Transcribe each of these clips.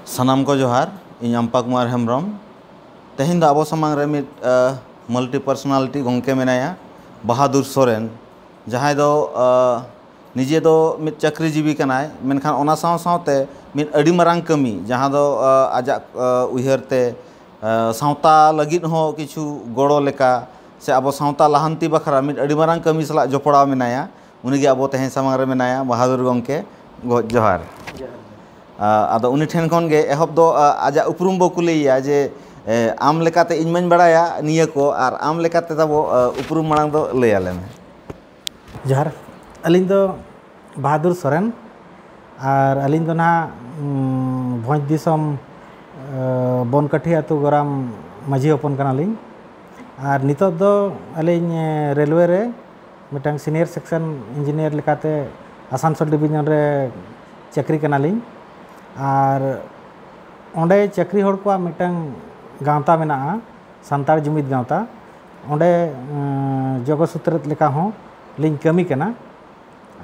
ᱥᱟᱱᱟᱢ ᱠᱚ ᱡᱚᱦᱟᱨ ᱤᱧ ᱟᱢᱯᱟ ᱠᱩᱢᱟᱨ ᱦᱮᱢᱵᱨᱚᱢ ᱛᱮᱦᱮᱧ ᱫᱚ ᱟᱵᱚ ᱥᱟᱢᱟᱝ ᱨᱮ ᱢᱤᱫ ᱢᱟᱞᱴᱤ ᱯᱟᱨᱥᱚᱱᱟᱞᱤᱴᱤ ᱜᱚᱢᱠᱮ ᱢᱮᱱᱟᱭᱟ ᱵᱟᱦᱟᱫᱩᱨ ᱥᱚᱨᱮᱱ ᱡᱟᱦᱟᱸᱭ ᱫᱚ ᱱᱤᱡᱮ ᱫᱚ ᱢᱤᱫ ᱪᱟᱹᱠᱨᱤ ᱡᱤᱵᱤ ᱠᱟᱱᱟᱭ ᱢᱮᱱᱠᱷᱟᱱ ᱚᱱᱟ ᱥᱟᱶ ᱥᱟᱶᱛᱮ ᱢᱤᱫ ᱟᱹᱰᱤ ᱢᱟᱨᱟᱝ ᱠᱟᱹᱢᱤ ᱡᱟᱦᱟᱸ ᱫᱚ ᱟᱡᱟᱜ ᱩᱭᱦᱟᱹᱨ ᱛᱮ ᱥᱟᱶᱛᱟ ᱞᱟᱹᱜᱤᱫ ᱦᱚᱸ ᱠᱤᱪᱷᱩ ᱜᱚᱲᱚ ᱞᱮᱠᱟ ᱥᱮ ᱟᱵᱚ ᱥᱟᱶᱛᱟ ᱞᱟᱦᱟᱱᱛᱤ ᱵᱟᱠᱷᱨᱟ ᱢᱤᱫ ᱟᱹᱰᱤ ᱢᱟᱨᱟᱝ ᱠᱟᱹᱢᱤ ᱥᱟᱞᱟᱜ ᱡᱚᱯᱲᱟᱣ ᱢᱮᱱᱟᱭᱟ ᱩᱱᱤ ᱜᱮ ᱟᱵᱚ ᱛᱮᱦᱮᱧ ᱥᱟᱢᱟᱝ ᱨᱮ ᱢᱮᱱᱟᱭᱟ ᱵᱟᱦᱟᱫᱩᱨ ᱜᱚᱢᱠᱮ ᱡᱚᱦᱟᱨ ᱟᱫᱚ ᱩᱱᱤ ᱴᱷᱮᱱ ᱠᱷᱚᱱ ᱜᱮ ᱮᱦᱚᱵ ᱫᱚ ᱟᱡᱟᱜ ᱩᱯᱨᱩᱢ ᱵᱚ ᱠᱩᱞᱤᱭᱮᱭᱟ ᱡᱮ ᱟᱢ ᱞᱮᱠᱟᱛᱮ ᱤᱧ ᱢᱟᱹᱧ ᱵᱟᱲᱟᱭᱟ ᱱᱤᱭᱟᱹ ᱠᱚ ᱟᱨ ᱟᱢ ᱞᱮᱠᱟᱛᱮ ᱛᱟᱵᱚ ᱩᱯᱨᱩᱢ ᱢᱟᱲᱟᱝ ᱫᱚ ᱞᱟᱹᱭ ᱟᱞᱮ ᱢᱮ ᱡᱚᱦᱟᱨ ᱟᱹᱞᱤᱧ ᱫᱚ ᱵᱟᱦᱟᱫᱩᱨ ᱥᱚᱨᱮᱱ ᱟᱨ ᱟᱹᱞᱤᱧ ᱫᱚ ᱱᱟᱦᱟᱜ ᱵᱷᱚᱸᱡᱽ ᱫᱤᱥᱚᱢ ᱵᱚᱱᱠᱟᱴᱷᱤ ᱟᱹᱛᱩ ᱜᱚᱨᱟᱢ ᱢᱟᱹᱡᱷᱤ ᱦᱚᱯᱚᱱ ᱠᱟᱱᱟᱞᱤᱧ ᱟᱨ ᱱᱤᱛᱚᱜ ᱫᱚ ᱟᱹᱞᱤᱧ ᱨᱮᱞᱣᱮ ᱨᱮ ᱢᱤᱫᱴᱟᱝ ᱥᱤᱱᱤᱭᱚᱨ ᱥᱮᱠᱥᱚᱱ ᱤᱧᱡᱤᱱᱤᱭᱟᱨ ᱞᱮᱠᱟᱛᱮ ᱟᱥᱟᱱᱥᱳᱞ ᱰᱤᱵᱷᱤᱡᱚᱱ ᱨᱮ ᱪᱟᱹᱠᱨᱤ ᱠᱟᱱᱟᱞᱤᱧ ᱟᱨ ᱚᱸᱰᱮ ᱪᱟᱹᱠᱨᱤ ᱦᱚᱲ ᱠᱚᱣᱟᱜ ᱢᱤᱫᱴᱟᱝ ᱜᱟᱶᱛᱟ ᱢᱮᱱᱟᱜᱼᱟ ᱥᱟᱱᱛᱟᱲ ᱡᱩᱢᱤᱫ ᱜᱟᱶᱛᱟ ᱚᱸᱰᱮ ᱡᱚᱜᱚ ᱥᱩᱛᱨᱮᱛ ᱞᱮᱠᱟ ᱦᱚᱸ ᱞᱤᱧ ᱠᱟᱹᱢᱤ ᱠᱟᱱᱟ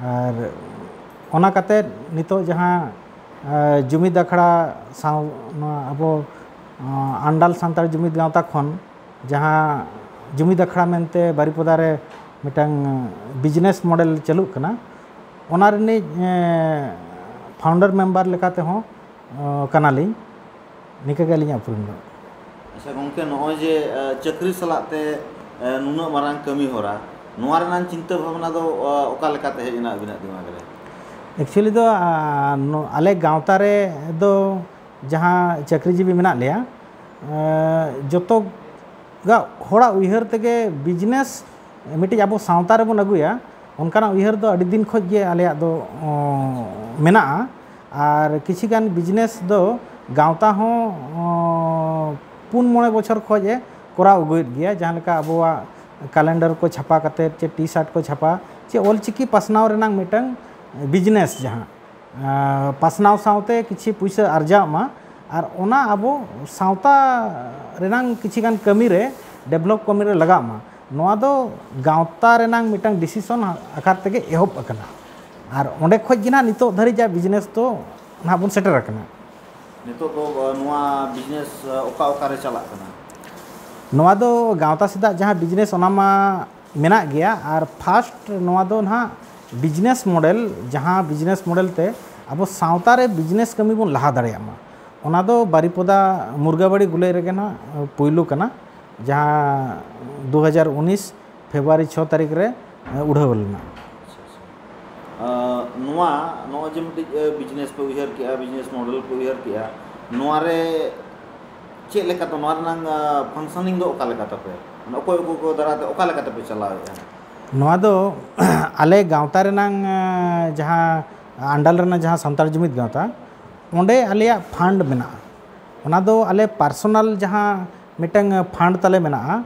ᱟᱨ ᱚᱱᱟ ᱠᱟᱛᱮ ᱱᱤᱛᱚᱜ ᱡᱟᱦᱟᱸ ᱡᱩᱢᱤᱫ ᱟᱠᱷᱲᱟ ᱥᱟᱶ ᱱᱚᱣᱟ ᱟᱵᱚ ᱟᱱᱰᱟᱞ ᱥᱟᱱᱛᱟᱲ ᱡᱩᱢᱤᱫ ᱜᱟᱶᱛᱟ ᱠᱷᱚᱱ ᱡᱟᱦᱟᱸ ᱡᱩᱢᱤᱫ ᱟᱠᱷᱲᱟ ᱢᱮᱱᱛᱮ ᱵᱟᱨᱤᱯᱚᱫᱟ ᱨᱮ ᱢᱤᱫᱴᱟᱝ ᱵᱤᱡᱽᱱᱮᱥ ᱢᱚᱰᱮᱞ ᱪᱟᱹᱞᱩᱜ ᱠᱟᱱᱟ ᱚᱱᱟ ᱨᱤᱱᱤᱡ ᱯᱷᱟᱣᱩᱱᱰᱟᱨ ᱢᱮᱢᱵᱟᱨ ᱞᱮᱠᱟ ᱛᱮᱦᱚᱸ ᱠᱟᱱᱟᱞᱤᱧ ᱱᱤᱝᱠᱟᱹ ᱜᱮ ᱟᱹᱞᱤᱧᱟᱜ ᱩᱯᱨᱩᱢ ᱫᱚ ᱟᱪᱪᱷᱟ ᱜᱚᱢᱠᱮ ᱱᱚᱜᱼᱚᱭ ᱡᱮ ᱪᱟᱹᱠᱨᱤ ᱥᱟᱞᱟᱜ ᱛᱮ ᱱᱩᱱᱟᱹᱜ ᱢᱟᱨᱟᱝ ᱠᱟᱹᱢᱤ ᱦᱚᱨᱟ ᱱᱚᱣᱟ ᱨᱮᱱᱟᱜ ᱪᱤᱱᱛᱟᱹ ᱵᱷᱟᱵᱽᱱᱟ ᱫᱚ ᱚᱠᱟ ᱞᱮᱠᱟ ᱛᱮ ᱦᱮᱡ ᱮᱱᱟ ᱟᱹᱵᱤᱱᱟᱜ ᱫᱤᱢᱟᱜᱽ ᱨᱮ ᱮᱠᱪᱩᱭᱮᱞᱤ ᱫᱚ ᱟᱞᱮ ᱜᱟᱶᱛᱟ ᱨᱮᱫᱚ ᱡᱟᱦᱟᱸ ᱪᱟᱹᱠᱨᱤ ᱡᱤᱵᱤ ᱢᱮᱱᱟᱜ ᱞᱮᱭᱟ ᱡᱚᱛᱚ ᱜᱟᱜ ᱦᱚᱲᱟᱜ ᱩᱭᱦᱟᱹᱨ ᱛᱮᱜᱮ ᱵᱤᱡᱽᱱᱮᱥ ᱢᱤᱫᱴᱤᱡ ᱟᱵᱚ ᱥᱟᱶᱛᱟ ᱨᱮᱵᱚᱱ ᱟᱹᱜᱩᱭᱟ ᱚᱱᱠᱟᱱᱟᱜ ᱩᱭᱦᱟᱹᱨ ᱫᱚ ᱟᱹᱰᱤ ᱫᱤᱱ ᱠᱷᱚᱱ ᱜᱮ ᱟᱞᱮᱭᱟᱜ ᱫᱚ ᱢᱮᱱᱟᱜᱼᱟ ᱟᱨ ᱠᱤᱪᱷᱩ ᱜᱟᱱ ᱵᱤᱡᱽᱱᱮᱥ ᱫᱚ ᱜᱟᱶᱛᱟ ᱦᱚᱸ ᱯᱩᱱ ᱢᱚᱬᱮ ᱵᱚᱪᱷᱚᱨ ᱠᱷᱚᱱ ᱮ ᱠᱚᱨᱟᱣ ᱟᱹᱜᱩᱭᱮᱫ ᱜᱮᱭᱟ ᱡᱟᱦᱟᱸ ᱞᱮᱠᱟ ᱟᱵᱚᱣᱟᱜ ᱠᱮᱞᱮᱱᱰᱟᱨ ᱠᱚ ᱪᱷᱟᱯᱟ ᱠᱟᱛᱮᱫ ᱥᱮ ᱴᱤ ᱥᱟᱨᱴ ᱠᱚ ᱪᱷᱟᱯᱟ ᱥᱮ ᱚᱞ ᱪᱤᱠᱤ ᱯᱟᱥᱱᱟᱣ ᱨᱮᱱᱟᱜ ᱢᱤᱫᱴᱟᱱ ᱵᱤᱡᱽᱱᱮᱥ ᱡᱟᱦᱟᱸ ᱯᱟᱥᱱᱟᱣ ᱥᱟᱶᱛᱮ ᱠᱤᱪᱷᱤ ᱯᱩᱭᱥᱟᱹ ᱟᱨᱡᱟᱜ ᱢᱟ ᱟᱨ ᱚᱱᱟ ᱟᱵᱚ ᱥᱟᱶᱛᱟ ᱨᱮᱱᱟᱝ ᱠᱤᱪᱷᱤ ᱜᱟᱱ ᱠᱟᱹᱢᱤ ᱨᱮ ᱰᱮᱵᱷᱞᱚᱯ ᱠᱟᱹᱢᱤ ᱨᱮ ᱞᱟᱜᱟᱜ ᱢᱟ ᱱᱚᱣᱟ ᱫᱚ ᱜᱟᱶᱛᱟ ᱨᱮᱱᱟᱝ ᱢᱤᱫᱴᱟᱝ ᱰᱤᱥᱤᱥᱚᱱ ᱟᱠᱟᱨ ᱛᱮᱜᱮ ᱮᱦᱚᱵ ᱟᱠᱟᱱᱟ ᱟᱨ ᱚᱸᱰᱮ ᱠᱷᱚᱱ ᱜᱮ ᱱᱟᱦᱟᱜ ᱱᱤᱛᱚᱜ ᱫᱷᱟᱹᱨᱤᱡ ᱡᱟ ᱵᱤᱡᱽᱱᱮᱥ ᱫᱚ ᱱᱟᱦᱟᱜ ᱵᱚᱱ ᱥᱮᱴᱮᱨ ᱟᱠᱟᱱᱟ ᱱᱤᱛᱚᱜ ᱫᱚ ᱱᱚᱣᱟ ᱵᱤᱡᱽᱱᱮᱥ ᱚᱠᱟ ᱚᱠᱟᱨᱮ ᱪᱟᱞᱟᱜ ᱠᱟᱱᱟ ᱱᱚᱣᱟ ᱫᱚ ᱜᱟᱶᱛᱟ ᱥᱮᱫᱟᱜ ᱡᱟᱦᱟᱸ ᱵᱤᱡᱽᱱᱮᱥ ᱚᱱᱟ ᱢᱟ ᱢᱮᱱᱟᱜ ᱜᱮᱭᱟ ᱟᱨ ᱯᱷᱟᱥᱴ ᱱᱚᱣᱟ ᱫᱚ ᱱᱟᱦᱟᱜ ᱵᱤᱡᱽᱱᱮᱥ ᱢᱚᱰᱮᱞ ᱡᱟᱦᱟᱸ ᱵᱤᱡᱽᱱᱮᱥ ᱢᱚᱰᱮᱞ ᱛᱮ ᱟᱵᱚ ᱥᱟᱶᱛᱟ ᱨᱮ ᱵᱤᱡᱽᱱᱮᱥ ᱠᱟᱹᱢᱤ ᱵᱚᱱ ᱞᱟᱦᱟ ᱫᱟᱲᱮᱭᱟᱜ ᱢᱟ ᱚᱱᱟ ᱫᱚ ᱵᱟᱨᱤᱯᱚᱫᱟ ᱢᱩᱨᱜᱟᱵᱟᱲᱤ ᱜᱩᱞᱟᱹᱭ ᱨᱮᱜᱮ ᱱᱟᱦᱟᱜ ᱯᱩᱭᱞᱩ ᱠᱟᱱᱟ ᱡᱟᱦᱟᱸ ᱫᱩ ᱦᱟᱡᱟᱨ ᱩᱱᱤᱥ ᱯᱷᱮᱵᱽᱨᱩᱣᱟᱨᱤ ᱪᱷᱚ ᱛᱟᱹᱨᱤᱠᱷ ᱨᱮ ᱩᱰᱷᱟᱹᱣ ᱞᱮᱱᱟ᱾ ᱱᱚᱣᱟ ᱱᱚᱜᱼᱚᱭ ᱡᱮ ᱢᱤᱫᱴᱤᱡ ᱵᱤᱡᱽᱱᱮᱥ ᱯᱮ ᱩᱭᱦᱟᱹᱨ ᱠᱮᱜᱼᱟ ᱵᱤᱡᱽᱱᱮᱥ ᱢᱚᱰᱮᱞ ᱯᱮ ᱩᱭᱦᱟᱹᱨ ᱠᱮᱜᱼᱟ ᱱᱚᱣᱟ ᱨᱮ ᱪᱮᱫ ᱞᱮᱠᱟᱛᱮ ᱱᱚᱣᱟ ᱨᱮᱱᱟᱝ ᱯᱷᱟᱱᱥᱚᱱᱤᱝ ᱫᱚ ᱚᱠᱟ ᱞᱮᱠᱟ ᱛᱟᱯᱮ ᱢᱟᱱᱮ ᱚᱠᱚᱭ ᱚᱠᱚᱭ ᱠᱚ ᱫᱟᱨᱟᱭ ᱛᱮ ᱚᱠᱟ ᱞᱮᱠᱟ ᱛᱮᱯᱮ ᱪᱟᱞᱟᱣᱮᱜᱼᱟ ᱱᱚᱣᱟ ᱫᱚ ᱟᱞᱮ ᱜᱟᱶᱛᱟ ᱨᱮᱱᱟᱝ ᱡᱟᱦᱟᱸ ᱟᱱᱰᱟᱞ ᱨᱮᱱᱟᱜ ᱡᱟᱦᱟᱸ ᱥᱟᱱᱛᱟᱲ ᱡᱩᱢᱤᱫ ᱜᱟᱶᱛᱟ ᱚᱸᱰᱮ ᱟᱞᱮᱭᱟᱜ ᱯᱷᱟᱱᱰ ᱢᱮᱱᱟᱜᱼᱟ ᱚᱱᱟ ᱫᱚ ᱟᱞᱮ ᱯᱟᱨᱥᱚᱱᱟᱞ ᱡᱟᱦᱟᱸ ᱢᱤᱫᱴᱟᱝ ᱯᱷᱟᱱᱰ ᱛᱟᱞᱮ ᱢᱮᱱᱟᱜᱼᱟ